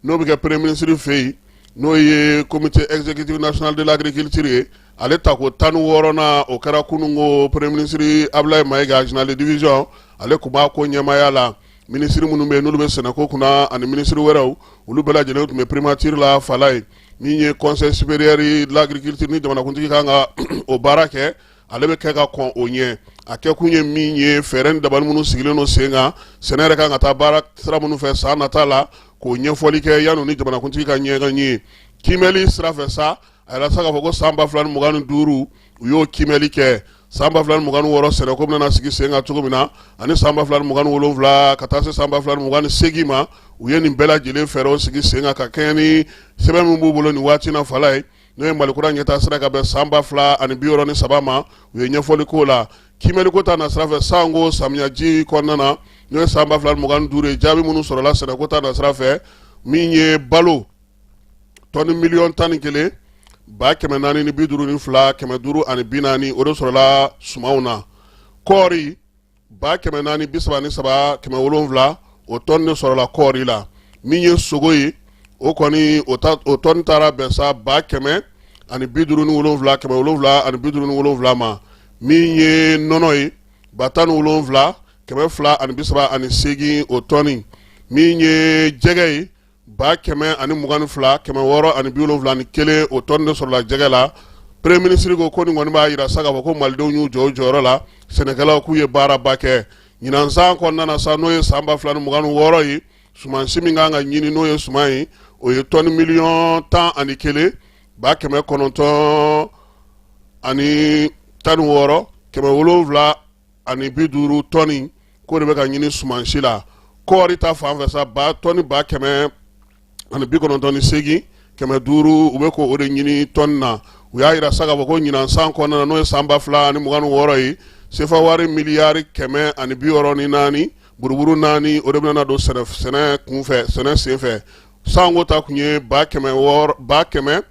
Speaker 1: n'o bɛ kɛ premier ministre fɛ yen n'o ye comité exécutif national de l'agriculture ye ale tako tan ni wɔɔrɔnan o kɛra kunungo premier ministre abulayi mayiga général de division ale tun b'a ko ɲɛmaaya la minisiri minnu bɛ yen n'olu bɛ sɛnɛko kunna ani minisiri wɛrɛw olu bɛɛ lajɛlen tun bɛ primature la falayi min ye conseil supérieur de l'agriculture ni jamanakuntigi kan ka o baara kɛ ale bɛ kɛ ka kɔn o ɲɛ a kɛ kun ye min ye fɛɛrɛ ni dabali minnu sigilen don sen kan sɛnɛ yɛrɛ kan ka taa baara sira minnu fɛ san nata la k'o ɲɛfɔli kɛ yann'u ni jamanakuntigi ka ɲɔgɔn ye kiimɛli sira fɛ sa a y'a yira sa k'a fɔ ko san ba fila ni mugan ni duuru u y'o kiimɛli kɛ san ba fila ni mugan ni wɔɔrɔ sɛnɛko bɛna sigi sen kan cogo min na ani san ba fila ni mugan ni wolonwula ka taa se san ba fila ni mugan ni seegin ma u ye nin bɛɛ lajɛlen fɛɛrɛw sigi sen kan ka kɛɲɛ ni sɛbɛn min b'u bolo nin waati in na falayi n'o ye malikura ɲɛtaasira ka bɛn san ba fila ani bi wɔɔrɔ ni saba ma u ye ɲɛfɔli k'o la kiimɛliko ta nasira fɛ sanko samiyaji kɔnɔna na n'o ye san ba fila ni mugan ni duuru ye jaabi minnu sɔrɔla sɛnɛko ta nasira fɛ min ye balo tɔni miliyɔn tan ni kelen ba kɛmɛ naani ni bi duuru ni fila kɛmɛ duuru ani bi naani o de sɔrɔla sumanw na kɔɔri ba kɛmɛ naani bi saba ni saba kɛmɛ wolonwula o tɔni de sɔrɔla kɔɔri la min ye sogo ye o kɔni o tɔni taara bɛn sa ba kɛmɛ ani bi duuru ni wolonwula kɛmɛ wolonwula ani bi duuru ni wolonwula ma min ye nɔnɔ ye ba tan ni wolonwula kɛmɛ fila ani bi saba ani seegin o tɔni min ye jɛgɛ ye ba kɛmɛ ani mugan ni fila kɛmɛ wɔɔrɔ ani bi wolonwula ni kelen o tɔn de sɔrɔla jɛgɛ la premier ministre ko ko nin kɔni b'a yira sa k'a fɔ ko malidenw y'u jɔ u jɔyɔrɔ la sɛnɛkɛlaw k'u ye baaraba kɛ ɲinan san kɔnɔna na sa n'o ye san ba fila ni mugan ni wɔɔrɔ ye sumansi min kan ka ɲini n'o ye suman ye o ye tɔni miliyɔn tan ani kelen ba kɛmɛ kɔnɔntɔn ani tan ni wɔɔrɔ kɛmɛ wolonwula ani bi duuru tɔni k'o de bɛ ka ɲini sumansi la kɔɔri ta fan fɛ sa tɔni ba kɛmɛ ani bi kɔnɔntɔn ni seegin kɛmɛ duuru u bɛ k'o de ɲini tɔni na u y'a yira sa k'a fɔ ko ɲinan san kɔnɔna na n'o ye san ba fila ani mugan ni wɔɔrɔ ye sefa wari miliyari kɛmɛ ani bi wɔɔrɔ ni naani buruburu naani o de bɛna don sɛnɛ kunfɛ sɛnɛ senfɛ sanko ta kun ye ba kɛmɛ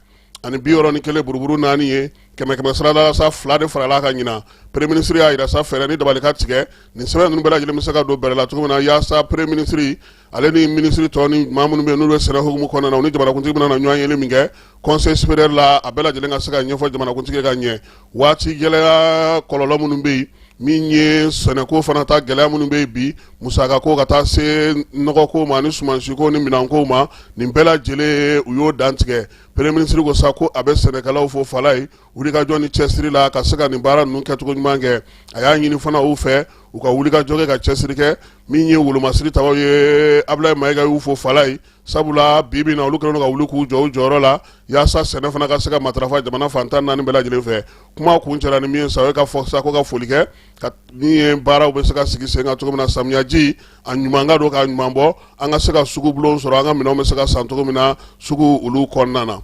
Speaker 1: ani bi wɔɔrɔ ni kelen buruburu naani ye kɛmɛ kɛmɛ sarada la sa fila de farala kan ɲinan premier ministre y'a yira sa fɛɛrɛ ni dabali ka tigɛ nin sɛbɛn ninnu bɛɛ lajɛlen bɛ se ka don bɛrɛ la cogo min na yaasa premier ministre ale ni ministre tɔ ni maa minnu bɛ yen n'olu bɛ sɛnɛ hukumu kɔnɔna na u ni jamanakuntigi bɛna na ɲɔgɔn yeli min kɛ conseil supérieur la a bɛɛ lajɛlen ka se ka ɲɛfɔ jamanakuntigi ka ɲɛ waati gɛlɛya kɔlɔlɔ minnu bɛ yen min ye sɛnɛko fana ta gɛlɛya minnu bɛ yen bi musakako ka taa se nɔgɔko ma ni sumansiko ni minɛnko ma nin bɛɛ lajɛlen u y'o dantigɛ premier ministre ko sa ko a bɛ sɛnɛkɛlaw fo fala ye wulikajɔ ni cɛsiri la ka se ka nin baara ninnu kɛcogo ɲuman kɛ a y'a ɲini fana u fɛ u ka wulikajɔ kɛ ka cɛsiri kɛ min ye wolomasiri tabaw ye abulayi mayiga y'u fo fala ye sabula bi bi na olu kɛlen don ka wuli k'u jɔ u jɔyɔrɔ la yaasa sɛnɛ fana ka se ka matarafa jamana fan tan ni naani bɛɛ lajɛlen fɛ kuma kuncɛlan in min ye sa o ye k'a fɔ sa ko ka foli kɛ ka min ye baaraw bɛ se ka sigi sen kan cogo min na samiyaji a ɲuman ka don k'a ɲuman bɔ an ka se ka sugu bulon sɔrɔ an ka minɛnw bɛ se ka san cogo min na sugu olu kɔnɔna na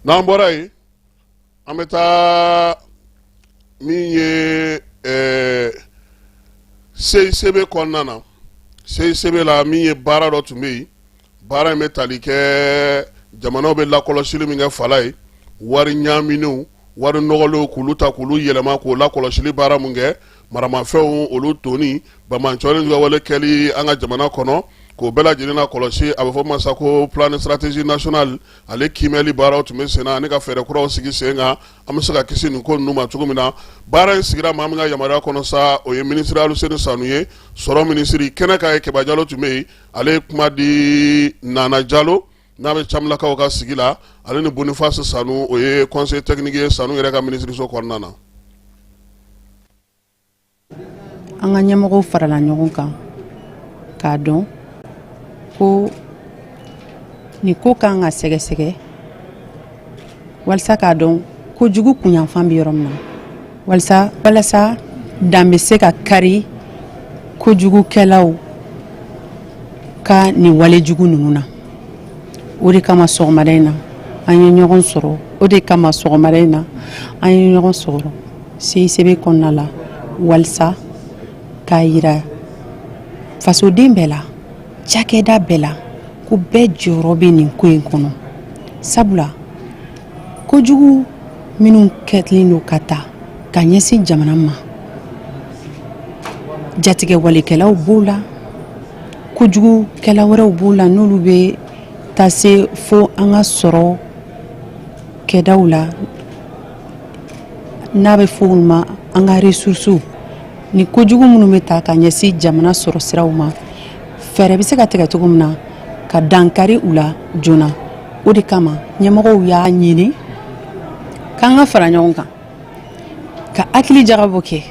Speaker 1: n'an bɔra yen an bɛ taa min ye ɛɛ CICB kɔnɔna na CICB la min ye baara dɔ tun bɛ yen baara in bɛ tali kɛ jamanaw bɛ lakɔlɔsili min kɛ fala ye wari ɲaaminenw wari nɔgɔlenw k'olu ta k'olu yɛlɛma k'o lakɔlɔsili baara min kɛ maramafɛnw olu donni banbaanciw ka wale kɛli an ka jamana kɔnɔ k'o bɛɛ lajɛlen nakɔlɔsi a bɛ fɔ ma sa ko plan stratégie nationale ale kiimɛli baaraw tun bɛ sen na ani ka fɛɛrɛ kuraw sigi sen kan an bɛ se ka kisi nin ko ninnu ma cogo min na baara in sigira maa min ka yamaruya kɔnɔ sa o ye minisiri aluseni sanu ye sɔrɔ minisiri kɛnɛ kan yen kɛba jalo tun bɛ yen ale ye kuma di nana jalo n'a bɛ camilakaw ka sigi la ale ni boniface sanu o ye conseil technique ye sanu yɛrɛ ka minisiriso kɔnɔna na
Speaker 6: an ka ɲɛmɔgɔw farala ɲɔgɔn kan k'a dɔn ko nin ko kan ka sɛgɛsɛgɛ walasa k'a dɔn kojugu kunyanfan bɛ yɔrɔ min na walasa dan bɛ se ka kari kojugukɛlaw ka nin wale jugu ninnu na o de kama sɔgɔmada in na an ye ɲɔgɔn sɔrɔ o de kama sɔgɔmada in na an ye ɲɔgɔn sɔrɔ CICB kɔnɔna la walisa k'a jira fasoden bɛɛ la, cakɛda bɛɛ la, ko bɛɛ jɔyɔrɔ bɛ nin ko in kɔnɔ sabula kojugu minnu kɛlen don ka ta ka ɲɛsin jamana ma, jatigɛwalekɛlaw b'o la, kojugukɛla wɛrɛw b'o la n'olu bɛ taa se fo an ka sɔrɔ kɛdaw la. n'a bɛ fɔ olu ma an ka ressources ni kojugu minnu bɛ ta ka ɲɛsin jamana sɔrɔ siraw ma fɛɛrɛ bɛ se ka tigɛ cogo min na ka dankari u la joona o de kama ɲɛmɔgɔw y'a ɲini k'an ka fara ɲɔgɔn kan ka hakili jagabɔ kɛ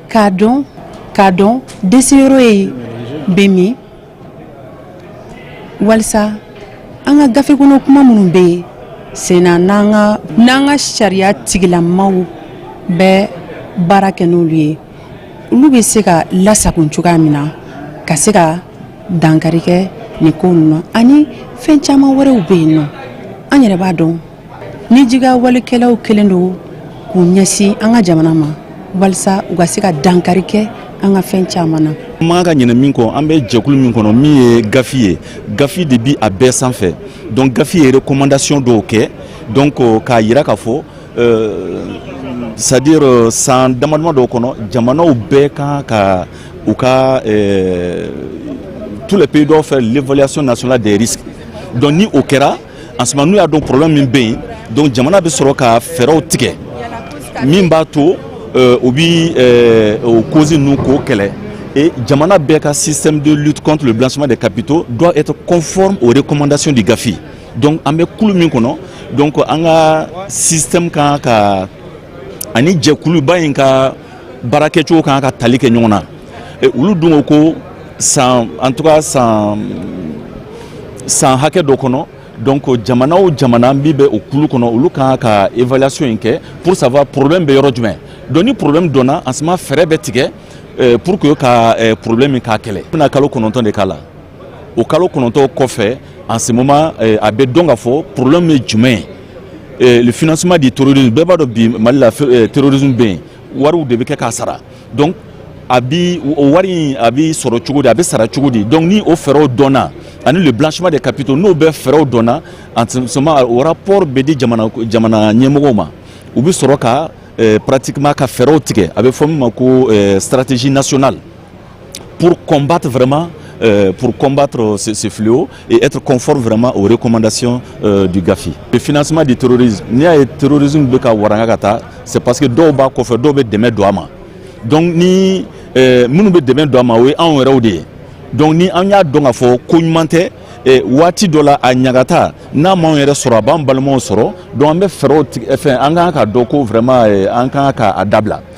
Speaker 6: k'a dɔn k'a dɔn deseyɔrɔ ye bɛ min walisa an ka gafe kɔnɔ kuma minnu bɛ yen sen na n'an ka sariya tigilamaw bɛ baara kɛ n'olu ye olu bɛ se ka lasagon cogoya min na ka se ka dankari kɛ nin ko ninnu na ani fɛn caman wɛrɛw bɛ yen nɔ an yɛrɛ b'a dɔn ni jatigɛwalekɛlaw kɛlen don k'u ɲɛsin an ka jamana ma walisa u ka se ka dankari kɛ an ka fɛn caman na man ka ɲinɛ min kɔ
Speaker 7: an bɛ jɛkulu min kɔnɔ min ye GAFI ye GAFI de bi a bɛɛ sanfɛ donc GAFI ye recommandation dɔw kɛ donc k'a yira k'a fɔ euh, c'est-à-dire euh, san damadama dɔw kɔnɔ jamanaw bɛɛ kan ka u ka euh, tous les pays doivent faire l'évaluation nationale des risques donc ni o kɛra en ce moment n'u y'a dɔn problème min bɛ yen donc jamana bɛ sɔrɔ ka fɛɛrɛw tigɛ min b'a to euh, u bi euh, o cause ninnu k'o kɛlɛ et jamana bɛɛ ka système de lutte contre le blanchiment des capitaux doit être conforme aux recommandations du GAFI donc an bɛ kulu min kɔnɔ donc an ka système kan ka ani jɛkuluba in ka baara kɛcogo kan ka tali kɛ ɲɔgɔn na olu dun ko ko san en tout cas san san hakɛ dɔ kɔnɔ donc jamana o jamana min bɛ o kulu kɔnɔ olu kan ka évaluation in kɛ pour savoir problème bɛ yɔrɔ jumɛn donc ni problème dɔnna en ce moment fɛɛrɛ bɛ tigɛ pour que ka problème in k'a kɛlɛ bɛna kalo kɔnɔntɔn de k'a la o kalo kɔnɔntɔn kɔfɛ en ce moment eh, a bɛ dɔn k'a fɔ problème ye jumɛn ye eh, le financement du terrorisme bɛɛ b'a dɔn bi Mali la eh, terrorisme bɛ yen wariw de bɛ kɛ k'a sara donc a bi o wari in a bi sɔrɔ cogo di a bɛ sara cogo di donc ni o fɛɛrɛw dɔnna ani le blanchiment des capitaux n'o bɛɛ fɛɛrɛw dɔnna en ce moment o rapport bɛ di jamana jamana ɲɛmɔgɔw ma u bɛ sɔrɔ ka pratiquement ka fɛɛrɛw tigɛ a bɛ fɔ min ma ko stratégie nationale pour combattre vraiment euh, pour combattre ce, ce, fléau et être conforme vraiment aux recommandations euh, du GAFI. Le financement du terrorisme, ni a ye terrorisme bɛ ka waranga ka taa, c'est parce que dɔw b'a kɔfɛ dɔw bɛ dɛmɛ don a ma. Donc ni euh, minnu bɛ dɛmɛ don a ma o ye anw yɛrɛw de ye donc ni an y'a dɔn k'a fɔ ko ɲuman tɛ eh, waati dɔ la a ɲagata n'a m'anw yɛrɛ sɔrɔ a b'an balimaw sɔrɔ donc an bɛ fɛɛrɛw fɛn an ka kan k'a dɔn ko vraiment eh, an ka kan ka a dabila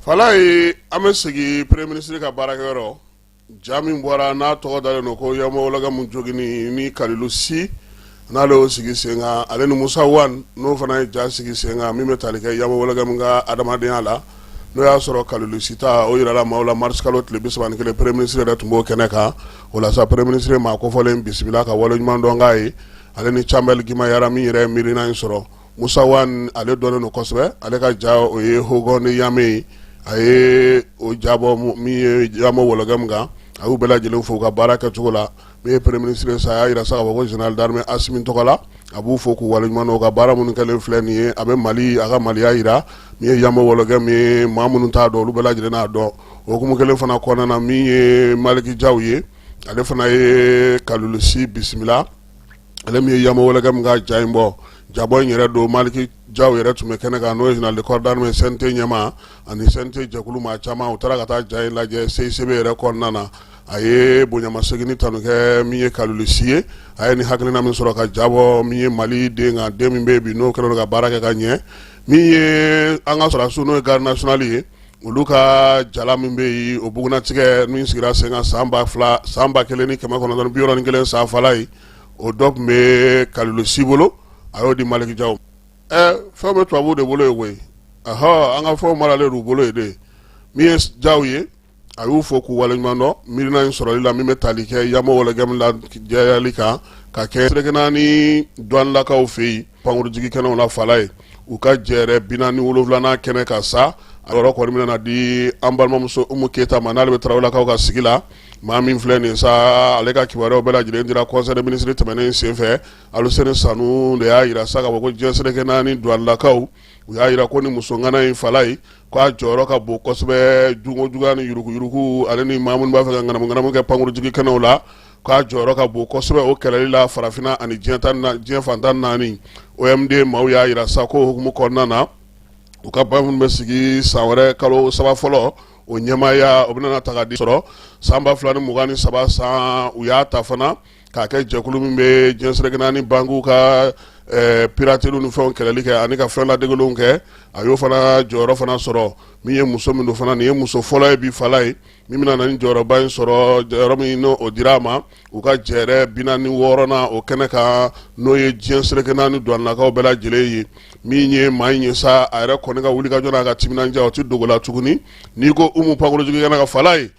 Speaker 1: Falaye an bɛ sigi premier ministre ka baarakɛyɔrɔ ja min bɔra n'a tɔgɔ dalen don ko Yambo Wologɛmu joginni Kalilu Si n'ale y'o sigi sen kan ale ni Musa Wan n'o fana ye ja sigi sen kan min bɛ tali kɛ Yambo Wologɛmu ka adamadenya la n'o y'a sɔrɔ Kalilu Si ta o jirala maaw la marisikalo tile bi saba ni kelen premier ministre yɛrɛ tun b'o kɛnɛ kan o la premier ministre ye maa kofɔlen bisimila ka waleɲuman dɔn k'a ye ale ni Cambɛli Gimbayara min yɛrɛ ye miirina in sɔrɔ Musa Wan ale dɔnnen don kosɛbɛ ale ka ja o ye Hogon de Yamé ye a ye o ja bɔ Yambo Wologɛmu kan a y'u bɛɛ lajɛlen fo ka baara kɛ cogo la min ye premier ministre sa a y'a jira sa ko général d'armée Asimi tɔgɔ la a b'u fo k'u waleɲuman dɔn ka baara minnu kɛlen filɛ nin ye a bɛ mali a ka maliya jira min ye Yambo Wologɛmu ye maa minnu t'a dɔn olu bɛɛ lajɛlen n'a dɔn o hukumu kelen fana kɔnɔna na min ye Maliki Jaw ye ale fana ye Kalilu Si bisimila ale min ye Yambo Wologɛmu ka ja in bɔ jabɔ in yɛrɛ don Maliki Jaw yɛrɛ tun bɛ kɛnɛ kan n'o ye général de corps d'armée ye CNT ɲɛmaa ani CNT jɛkulu maa caman u taara ka taa ja in lajɛ CICB yɛrɛ kɔnɔna na a ye bonyamasegin tanu kɛ min ye Kalilu Si ye a ye ni hakilina min sɔrɔ ka ja bɔ min ye mali den kan den min bɛ bi n'o kɛra ka baara kɛ ka ɲɛ min ye an ka sɔrɔdasiw n'o ye garde nationale ye olu ka jala min bɛ yen o bugunnatigɛ min sigira sen kan san ba fila san ba kelen ni kɛmɛ kɔnɔntɔn bi wɔɔrɔ ni kelen san Falaye o dɔ tun bɛ Kalilu Si bolo a y'o di Maliki Jaw ɛ fɛn bɛ tubabuw de bolo yen koyi ahɔ an ka fɛnw maralen b'u bolo yen dɛ min ye Jaw ye a y'u fo k'u waleɲuman dɔn miirina in sɔrɔli la min bɛ tali kɛ Yambo Wologɛmu lajɛyali kan ka kɛ seleke naani duwanelakaw fɛ yen Pankurunjigin kɛnɛw la Falaye, u ka jɛrɛ 47nan kɛnɛ kan sa, a yɔrɔ kɔni bɛna na di an balimamuso Umu Keyita ma n'ale bɛ Tarawelelakaw ka sigi la, maa min filɛ nin ye sa, ale ka kibaruyaw bɛɛ lajɛlen dira conseil des ministres tɛmɛnen senfɛ, Aluseni Sanu de y'a jira sa k'a fɔ ko diɲɛ seleke naani duwanelakaw, u y'a jira ko nin muso ŋana in Falaye, k'a jɔyɔrɔ ka bon kosɛbɛ jogo juguya ni yuruguyurugu ale ni maa minnu b'a fɛ ka ŋanamuŋanamu kɛ pankurunjigin kɛnɛw la k'a jɔyɔrɔ ka bon kosɛbɛ o kɛlɛli la farafinna ani diɲɛ fan tan naani OMD maaw y'a yira sa ko hukumu kɔnɔna na u ka baara minnu bɛ sigi san wɛrɛ kalo saba fɔlɔ o ɲɛmaaya o bɛna ta ka di sɔrɔ san ba fila ni mugan ni saba san u y'a ta fana k'a kɛ jɛkulu min bɛ diɲɛ seleke naani bankuw ka eh, pirateliw ni fɛnw kɛlɛli kɛ ani ka fɛn ladegelenw kɛ a y'o fana jɔyɔrɔ fana sɔrɔ min ye muso min don fana nin ye muso fɔlɔ ye bi fala ye min bɛna na ni jɔyɔrɔba in sɔrɔ jɔyɔrɔ min n'o dira a ma u ka jɛɛrɛ bi naani wɔɔrɔnan o kɛnɛ kan n'o ye diɲɛ seleke naani duwannakaw bɛɛ lajɛlen ye min ye maa in ye sa a yɛrɛ kɔni ka wulikajɔ n'a ka timinandiya o tɛ dogo la tuguni n'i ko Umu pankurunjigikɛnɛ kan fala ye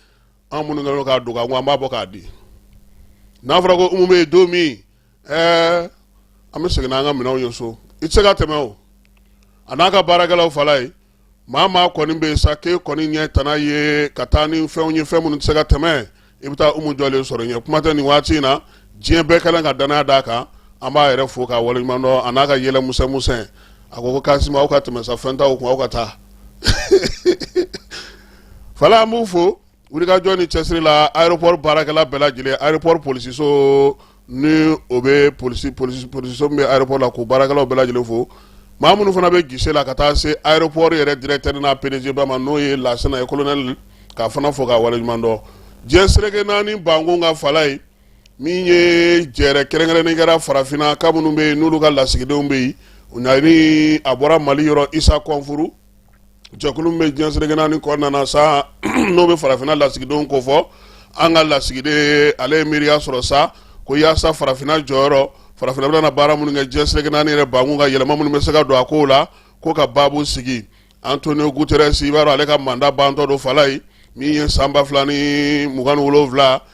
Speaker 1: an minnu kɛlen don k'a dogo an ko an b'a bɔ k'a di n'a fɔra ko Umu bɛ yen don min ɛɛ an bɛ segin n'an ka minɛnw ye so i tɛ se ka tɛmɛ o a n'a ka baarakɛlaw fala ye maa maa kɔni bɛ yen sa k'e kɔni ɲɛ tana ye ka taa ni fɛnw ye fɛn minnu tɛ se ka tɛmɛ i bɛ taa Umu jɔlen sɔrɔ ɲɛ kuma tɛ nin waati in na diɲɛ bɛɛ kɛlen ka danaya d'a kan an b'a yɛrɛ fo k'a waleɲuman dɔn a n'a ka yɛlɛ musɛmusɛn a ko ko Kasima aw ka tɛmɛ sa fɛn t'aw kun aw ka taa fala an b'u fo wulikajɔ ni cɛsiri la aéroport baarakɛla bɛɛ lajɛlen aéroport polisiso ni o bɛ polisi polisi polisiso min bɛ aéroport la k'o baarakɛlaw bɛɛ lajɛlen fo maa minnu fana bɛ guichet la ka taa se aéroport yɛrɛ directeur n'a PDG ba ma n'o ye Lasana ye colonel k'a fana fo k'a waleɲuman dɔn diɲɛ seleke naani bankun ka fala ye min ye jɛɛrɛ kɛrɛnkɛrɛnnen kɛra farafinna ka minnu bɛ yen n'olu ka lasigidenw bɛ yen ni a bɔra Mali yɔrɔ Isa Kɔnfuru jɛkulu min bɛ diɲɛ seleke naani kɔnɔna na sa n'o bɛ farafinna lasigidenw kofɔ an ka lasigiden ale ye miiriya sɔrɔ sa ko yaasa farafinna jɔyɔrɔ farafinna bɛna baara minnu kɛ diɲɛ seleke naani yɛrɛ bankun ka yɛlɛma minnu bɛ se ka don a ko la ko ka baabu sigi Antonio Guterres i b'a dɔn ale ka mandat bantɔ don fala ye min ye san ba fila ni mugan ni wolonwula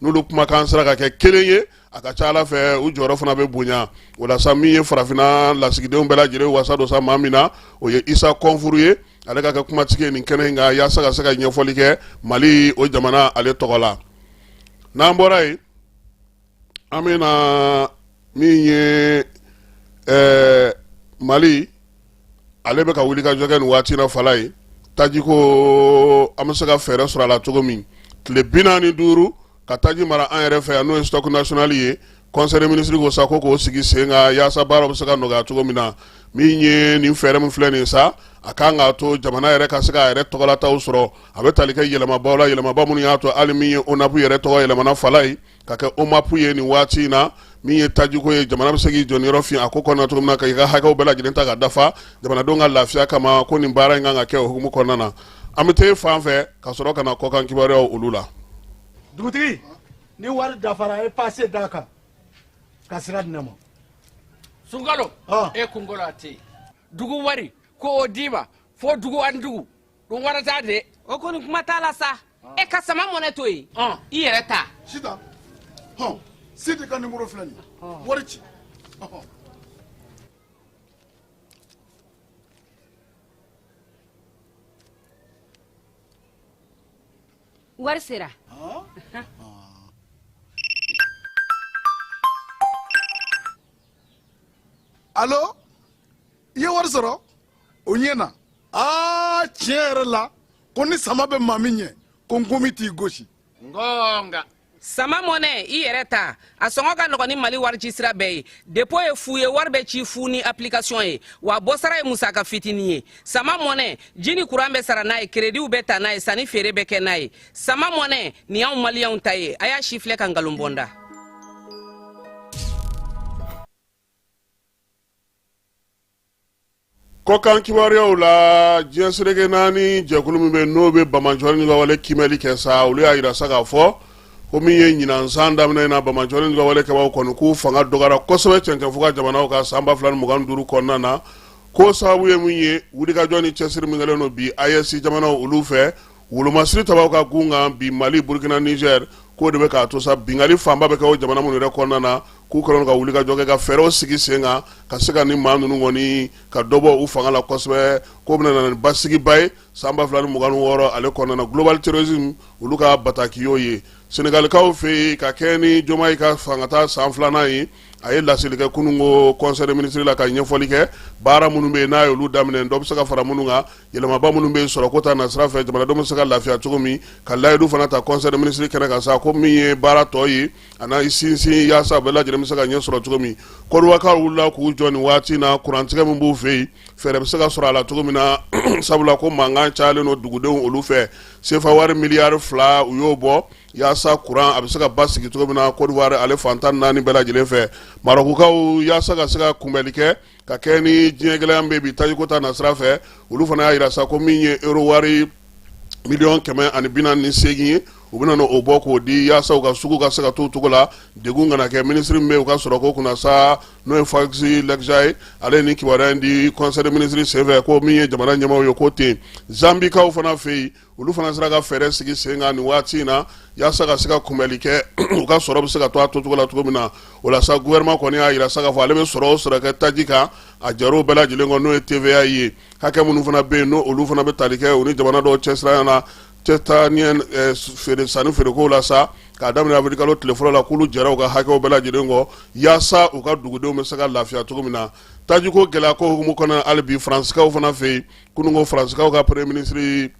Speaker 1: n'olu kumakan sera ka kɛ kelen ye a ka ca Ala fɛ u jɔyɔrɔ fana bɛ bonya o la sa min ye farafinna lasigidenw bɛɛ lajɛlen wasa don sa maa min na o ye Isa Kɔnfuru ye ale ka kɛ kumatigi ye nin kɛnɛ in kan yaasa ka se ka ɲɛfɔli kɛ Mali o jamana ale tɔgɔ la n'an bɔra yen an bɛ na min ye ɛɛ Mali ale bɛ ka wulikajɔ kɛ nin waati na fala ye taji ko an bɛ se ka fɛɛrɛ sɔrɔ a la cogo min tile bi naani duuru ka taji mara an yɛrɛ fɛ yan n'o ye stock national ye conseil des ministres ko sa ko k'o sigi sen kan yaasa baara bɛ se ka nɔgɔya cogo min na min ye nin fɛɛrɛ min filɛ nin sa a kan k'a to jamana yɛrɛ ka se k'a yɛrɛ tɔgɔlataw sɔrɔ a bɛ tali kɛ yɛlɛmabaw la yɛlɛmaba minnu y'a to hali min ye ONAP yɛrɛ tɔgɔ yɛlɛmana fala ye ka kɛ OMAP ye nin waati in na min ye tajiko ye jamana bɛ se k'i jɔ niyɔrɔ fin a ko kɔnɔna cogo min na ka i ka hakɛw bɛɛ lajɛlen ta ka dafa jamanadenw ka lafiya kama ko nin baara in kan ka kɛ o hukumu kɔnɔna na an bɛ taa fan fɛ ka sɔrɔ ka na kɔkan kibaruyaw olu la
Speaker 8: dugutigi ni wari dafara a ye paase d'a kan ka sira di ne ma sunkalo
Speaker 9: e kungo la a tɛ yen dugu wari ko o d'i ma fo dugu ani dugu don wɛrɛ t'a de. o kɔni kuma t'a la sa. Ah. e ka Sama Money to yen. Ah. i yɛrɛ ta.
Speaker 8: sitan hɔn sidi ka nimɔrɔ filɛ nin ye ah. wari ci.
Speaker 10: wari
Speaker 8: sera. alo. i ye wari sɔrɔ o ɲɛna aa tiɲɛ yɛrɛ la ko ni sama bɛ maa min ɲɛ ko nkɔmi t'i gosi ngɔnga
Speaker 9: Sama Money i yɛrɛ ta a sɔngɔ ka nɔgɔn ni mali warici sira bɛɛ ye depo ye fu ye wari bɛ ci fu ni application ye wa bɔsara ye musaka fitini ye Sama Money ji ni kuran bɛ sara n'a ye kerediw bɛ ta n'a ye sanni feere bɛ kɛ n'a ye Sama Money nin y'anw maliyɛnw ta ye a y'a sifilɛ ka nkalon bɔ n da
Speaker 1: kɔkan kibaruyaw la diɲɛ seleke naani jɛkulu min bɛ n'o bɛ bamanjɔni ka wale kiimɛli kɛ sa olu y'a jira sa k'a fɔ ko min ye ɲinansan daminɛ na bamanjɔni ka wale kɛbaaw kɔni k'u fanga dɔgɔyara kosɛbɛ cɛncɛn fuga jamanaw kan san ba fila ni mugan duuru kɔnɔna na ko sababu ye min ye wulikajɔ ni cɛsiri min kɛlen don bi AES jamanaw olu fɛ Wolomasiri tabaw ka gun kan bi Mali Burukina Nizɛri k'o de bɛ k'a to sa binkanni fanba bɛ kɛ jamana minnu yɛrɛ kɔnɔna na k'u kɛlen ka wulikajɔ kɛ ka fɛɛrɛw sigi sen kan ka se ka nin maa ninnu kɔni ka dɔ bɔ u fanga la kosɛbɛ k'o bɛna na ni basigiba ye san ba fila ni mugan wɔɔrɔ ale kɔnɔna Global Terrorisme olu ka bataki y'o ye Senegalikaw fɛ yen ka kɛ ni Diomaye ka fangata san filanan ye a ye laseli kɛ kunungo conseil des ministres la ka ɲɛfɔli kɛ baara minnu bɛ n'a ye olu daminɛ dɔ bɛ se ka fara minnu kan yɛlɛmaba minnu bɛ sɔrɔko ta nasira fɛ jamanadenw bɛ se ka lafiya cogo min ka layidu fana ta conseil des ministres kɛnɛ kan sa ko min ye baara tɔ ye a n'a sinsin yaasa bɛɛ lajɛlen bɛ se ka ɲɛ sɔrɔ cogo min Côte d'Ivoirekaw wulila k'u jɔ nin waati na kurantigɛ min b'u fɛ yen fɛɛrɛ bɛ se ka sɔrɔ a la cogo min na sabula ko mankan cayalen don dugudenw olu fɛ sefa wari miliyari fila u y'o bɔ yaasa kuran a bɛ se ka basigi cogo min na Côte d'Ivoire ale fan tan ni naani bɛɛ lajɛlen fɛ Marɔkukaw yaasa ka se ka kunbɛnli kɛ ka kɛ ni diɲɛ gɛlɛya bɛ bi tajiko ta nasira fɛ olu fana y'a jira sa ko min ye euro wari miliyɔn kɛmɛ ani bi naani ni seegin ye u bɛna na o bɔ k'o di yaasa u ka sugu ka se ka to cogo la degun kana kɛ minisiri min bɛ u ka sɔrɔ ko kunna sa n'o ye Fouzi Lekjaa ye ale ye nin kibaruya in di conseil des ministres senfɛ ko min ye jamana ɲɛmaaw ye ko ten Zanbikaw fana fɛ yen olu fana sera ka fɛɛrɛ sigi sen kan nin waati in na yaasa ka se ka kunbɛli kɛ u ka sɔrɔ bɛ se ka to a tocogo la cogo min na o la sa gouvernement kɔni y'a jira sa ka fɔ ale bɛ sɔrɔ o sɔrɔ kɛ taji kan a jɛr'o bɛɛ lajɛlen kɔ n'o ye TVA ye hakɛ minnu fana bɛ yen n'olu fana bɛ tali kɛ u ni jamana dɔw cɛ siranya na cɛ taa feere sanni feerekow la sa k'a daminɛ avril kalo tile fɔlɔ la k'olu jɛra u ka hakɛw bɛɛ lajɛlen kɔ yaasa u ka dugudenw bɛ se ka lafiya cogo min na tajiko gɛlɛya ko hukumu kɔnɔ hali bi faransikaw fana fɛ yen kununko faransikaw ka premier ministre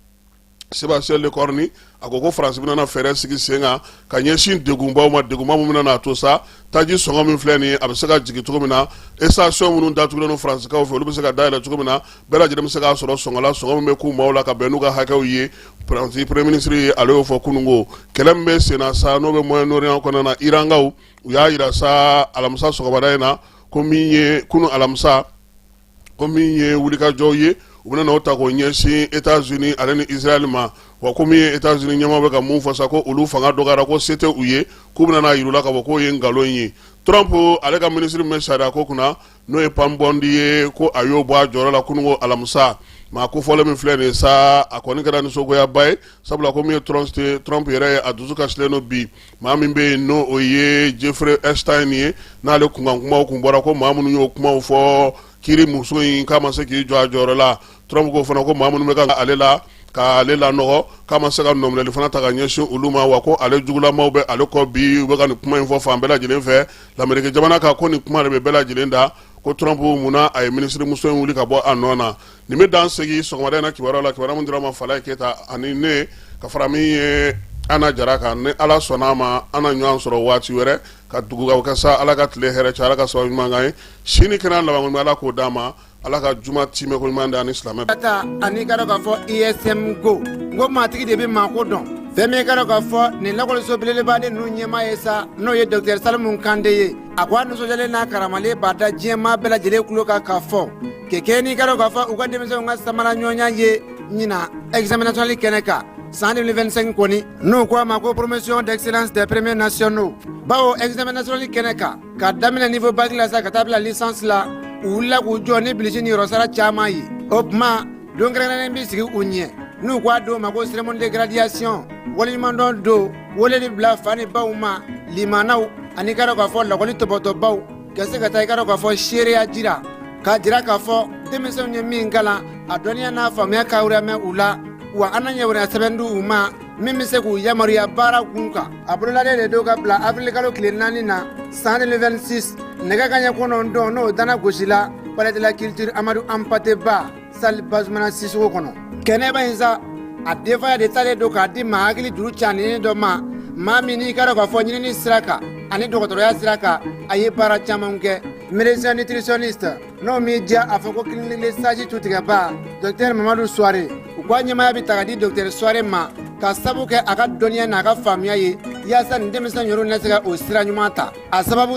Speaker 1: Sébastien Lecornu a ko ko faransi bɛna fɛɛrɛ sigi sen kan ka ɲɛsin degunbaw ma degunba min bɛna a to sa taji sɔngɔ min filɛ nin a bɛ se ka jigin cogo min na station minnu datugulen don faransikaw fɛ olu bɛ se ka dayɛlɛ cogo min na bɛɛ lajɛlen bɛ se k'a sɔrɔ sɔngɔ la sɔngɔ min bɛ k'u maaw la ka bɛn n'u ka hakɛw ye premier ministre ale y'o fɔ kununko kɛlɛ min bɛ senna sa n'o bɛ Moyen-Orient kɔnɔna na irankaw u y'a jira sa alamisa sɔgɔmada in na ko min ye kunun alamisa ko min ye wulikajɔw ye u bɛna o ta k'o ɲɛsin états-unis ale ni israël ma wa ko min ye états-unis ɲɛmaa bɛ ka mun fɔ sa ko olu fanga dɔgɔyara ko se tɛ u ye k'u bɛna a yir'u la ka fɔ k'o ye nkalon ye trump ale ka minisiri min bɛ sariya ko kunna n'o ye pam bondi ye ko a y'o bɔ a jɔyɔrɔ la kununko alamisa maa kofɔlen min filɛ nin ye sa a kɔni kɛra nisɔngoyaba ye sabula ko min ye trump yɛrɛ ye a dusu kasilen don bi maa min bɛ yen n'o o ye jeffrey epstein ye n'ale kunkan kumaw kun bɔra ko maa minnu y'o kumaw fɔ kiri muso in k'a ma se k'i jɔ a jɔyɔrɔ la trump ko fana ko maa minnu bɛ ka ale la ka ale lanɔgɔ k'a ma se ka nɔminɛli fana ta ka ɲɛsin olu ma wa ko ale jugulamaw bɛ ale kɔ bi u bɛ ka nin kuma in fɔ fan bɛɛ lajɛlen fɛ lameriki jamana kan ko nin kuma de bɛ bɛɛ lajɛlen da ko trump mun na a ye minisirimuso in wuli ka bɔ a nɔ na nin bɛ dan sigi sɔgɔmada in na kibaruya la kibaruya min dir'a ma Falaye Keyita ani ne ka fara min ye Ana Jara kan ni Ala sɔnn'a ma an na ɲɔgɔn sɔrɔ waati wɛrɛ ka dugawu kɛ sa Ala ka tile hɛrɛ caya Ala ka sababu ɲuman k'an ye sini kɛnɛ n'a laban kɔni bɛ Ala k'o d'an ma Ala ka juma tiimɛ ko ɲuman d'an ni silamɛ bɛɛ ta an'i ka dɔn
Speaker 11: ka fɔ ISM ko n ko maatigi de bɛ maako dɔn fɛn min ye i ka dɔn ka fɔ nin lakɔliso belebeleba ninnu ɲɛmaa ye sa n'o ye docteur Salimu Kante ye a ko a nisɔndiyalen n'a karamalen b'a da diɲɛmaa bɛɛ lajɛlen tulo kan ka fɔ Kɛkɛ n'i ka dɔn k'a fɔ u ka denmisɛnw ka samara ɲɔgɔnya ye ɲina examen national kɛnɛ kan san 2025 kɔni n'u ko a ma ko promotion d'excellence des premiers nationaux bawo examen national kɛnɛ kan ka daminɛ niveau bac la sa ka taa bila licence la u wulila k'u jɔ ni bilisi ni yɔrɔsara caman ye o tuma don kɛrɛnkɛrɛnnen bɛ sigi u ɲɛ n'u ko a don ma ko cérémonie de graduation waleɲumandɔn don weleli bila fa ni baw ma limanaw ani ka dɔn k'a fɔ lakɔli tɔpɔtɔbaw Ka se ka taa i ka dɔn k'a fɔ seereya jira k'a jira k'a fɔ denmisɛnw ye min kalan a dɔnniya n'a faamuya ka mɛn u la wa an na ɲɛ wɛrɛ sɛbɛn di u ma min bɛ se k'u yamaruya baara kun kan a bolodalen de don ka bila awirilikalo tile naani na san 2026 nɛgɛ kanɲɛ kɔnɔntɔn n'o danna gosi la palais de la culture Amadou Hampâté Bâ Sali Bazumana Sisoko kɔnɔ kɛnɛba in sa a denfaya de taalen don k'a di maa hakili juru ca ni dɔ ma maa min n'i k'a dɔn k'a fɔ ɲinin sira kan ani dɔgɔtɔrɔya sira kan a ye baara caman kɛ médecin nutritionniste n'o man'i diya a fɔ ko clinique saji tutigɛba docteur mamadu suware u k'a ɲɛmaya bɛ ta k'a di docteur suware ma ka sabu kɛ a ka dɔnniya n'a ka faamuya ye yaasa ni denmisɛnnin yɔrɔ na se ka o sira ɲuman ta a sababu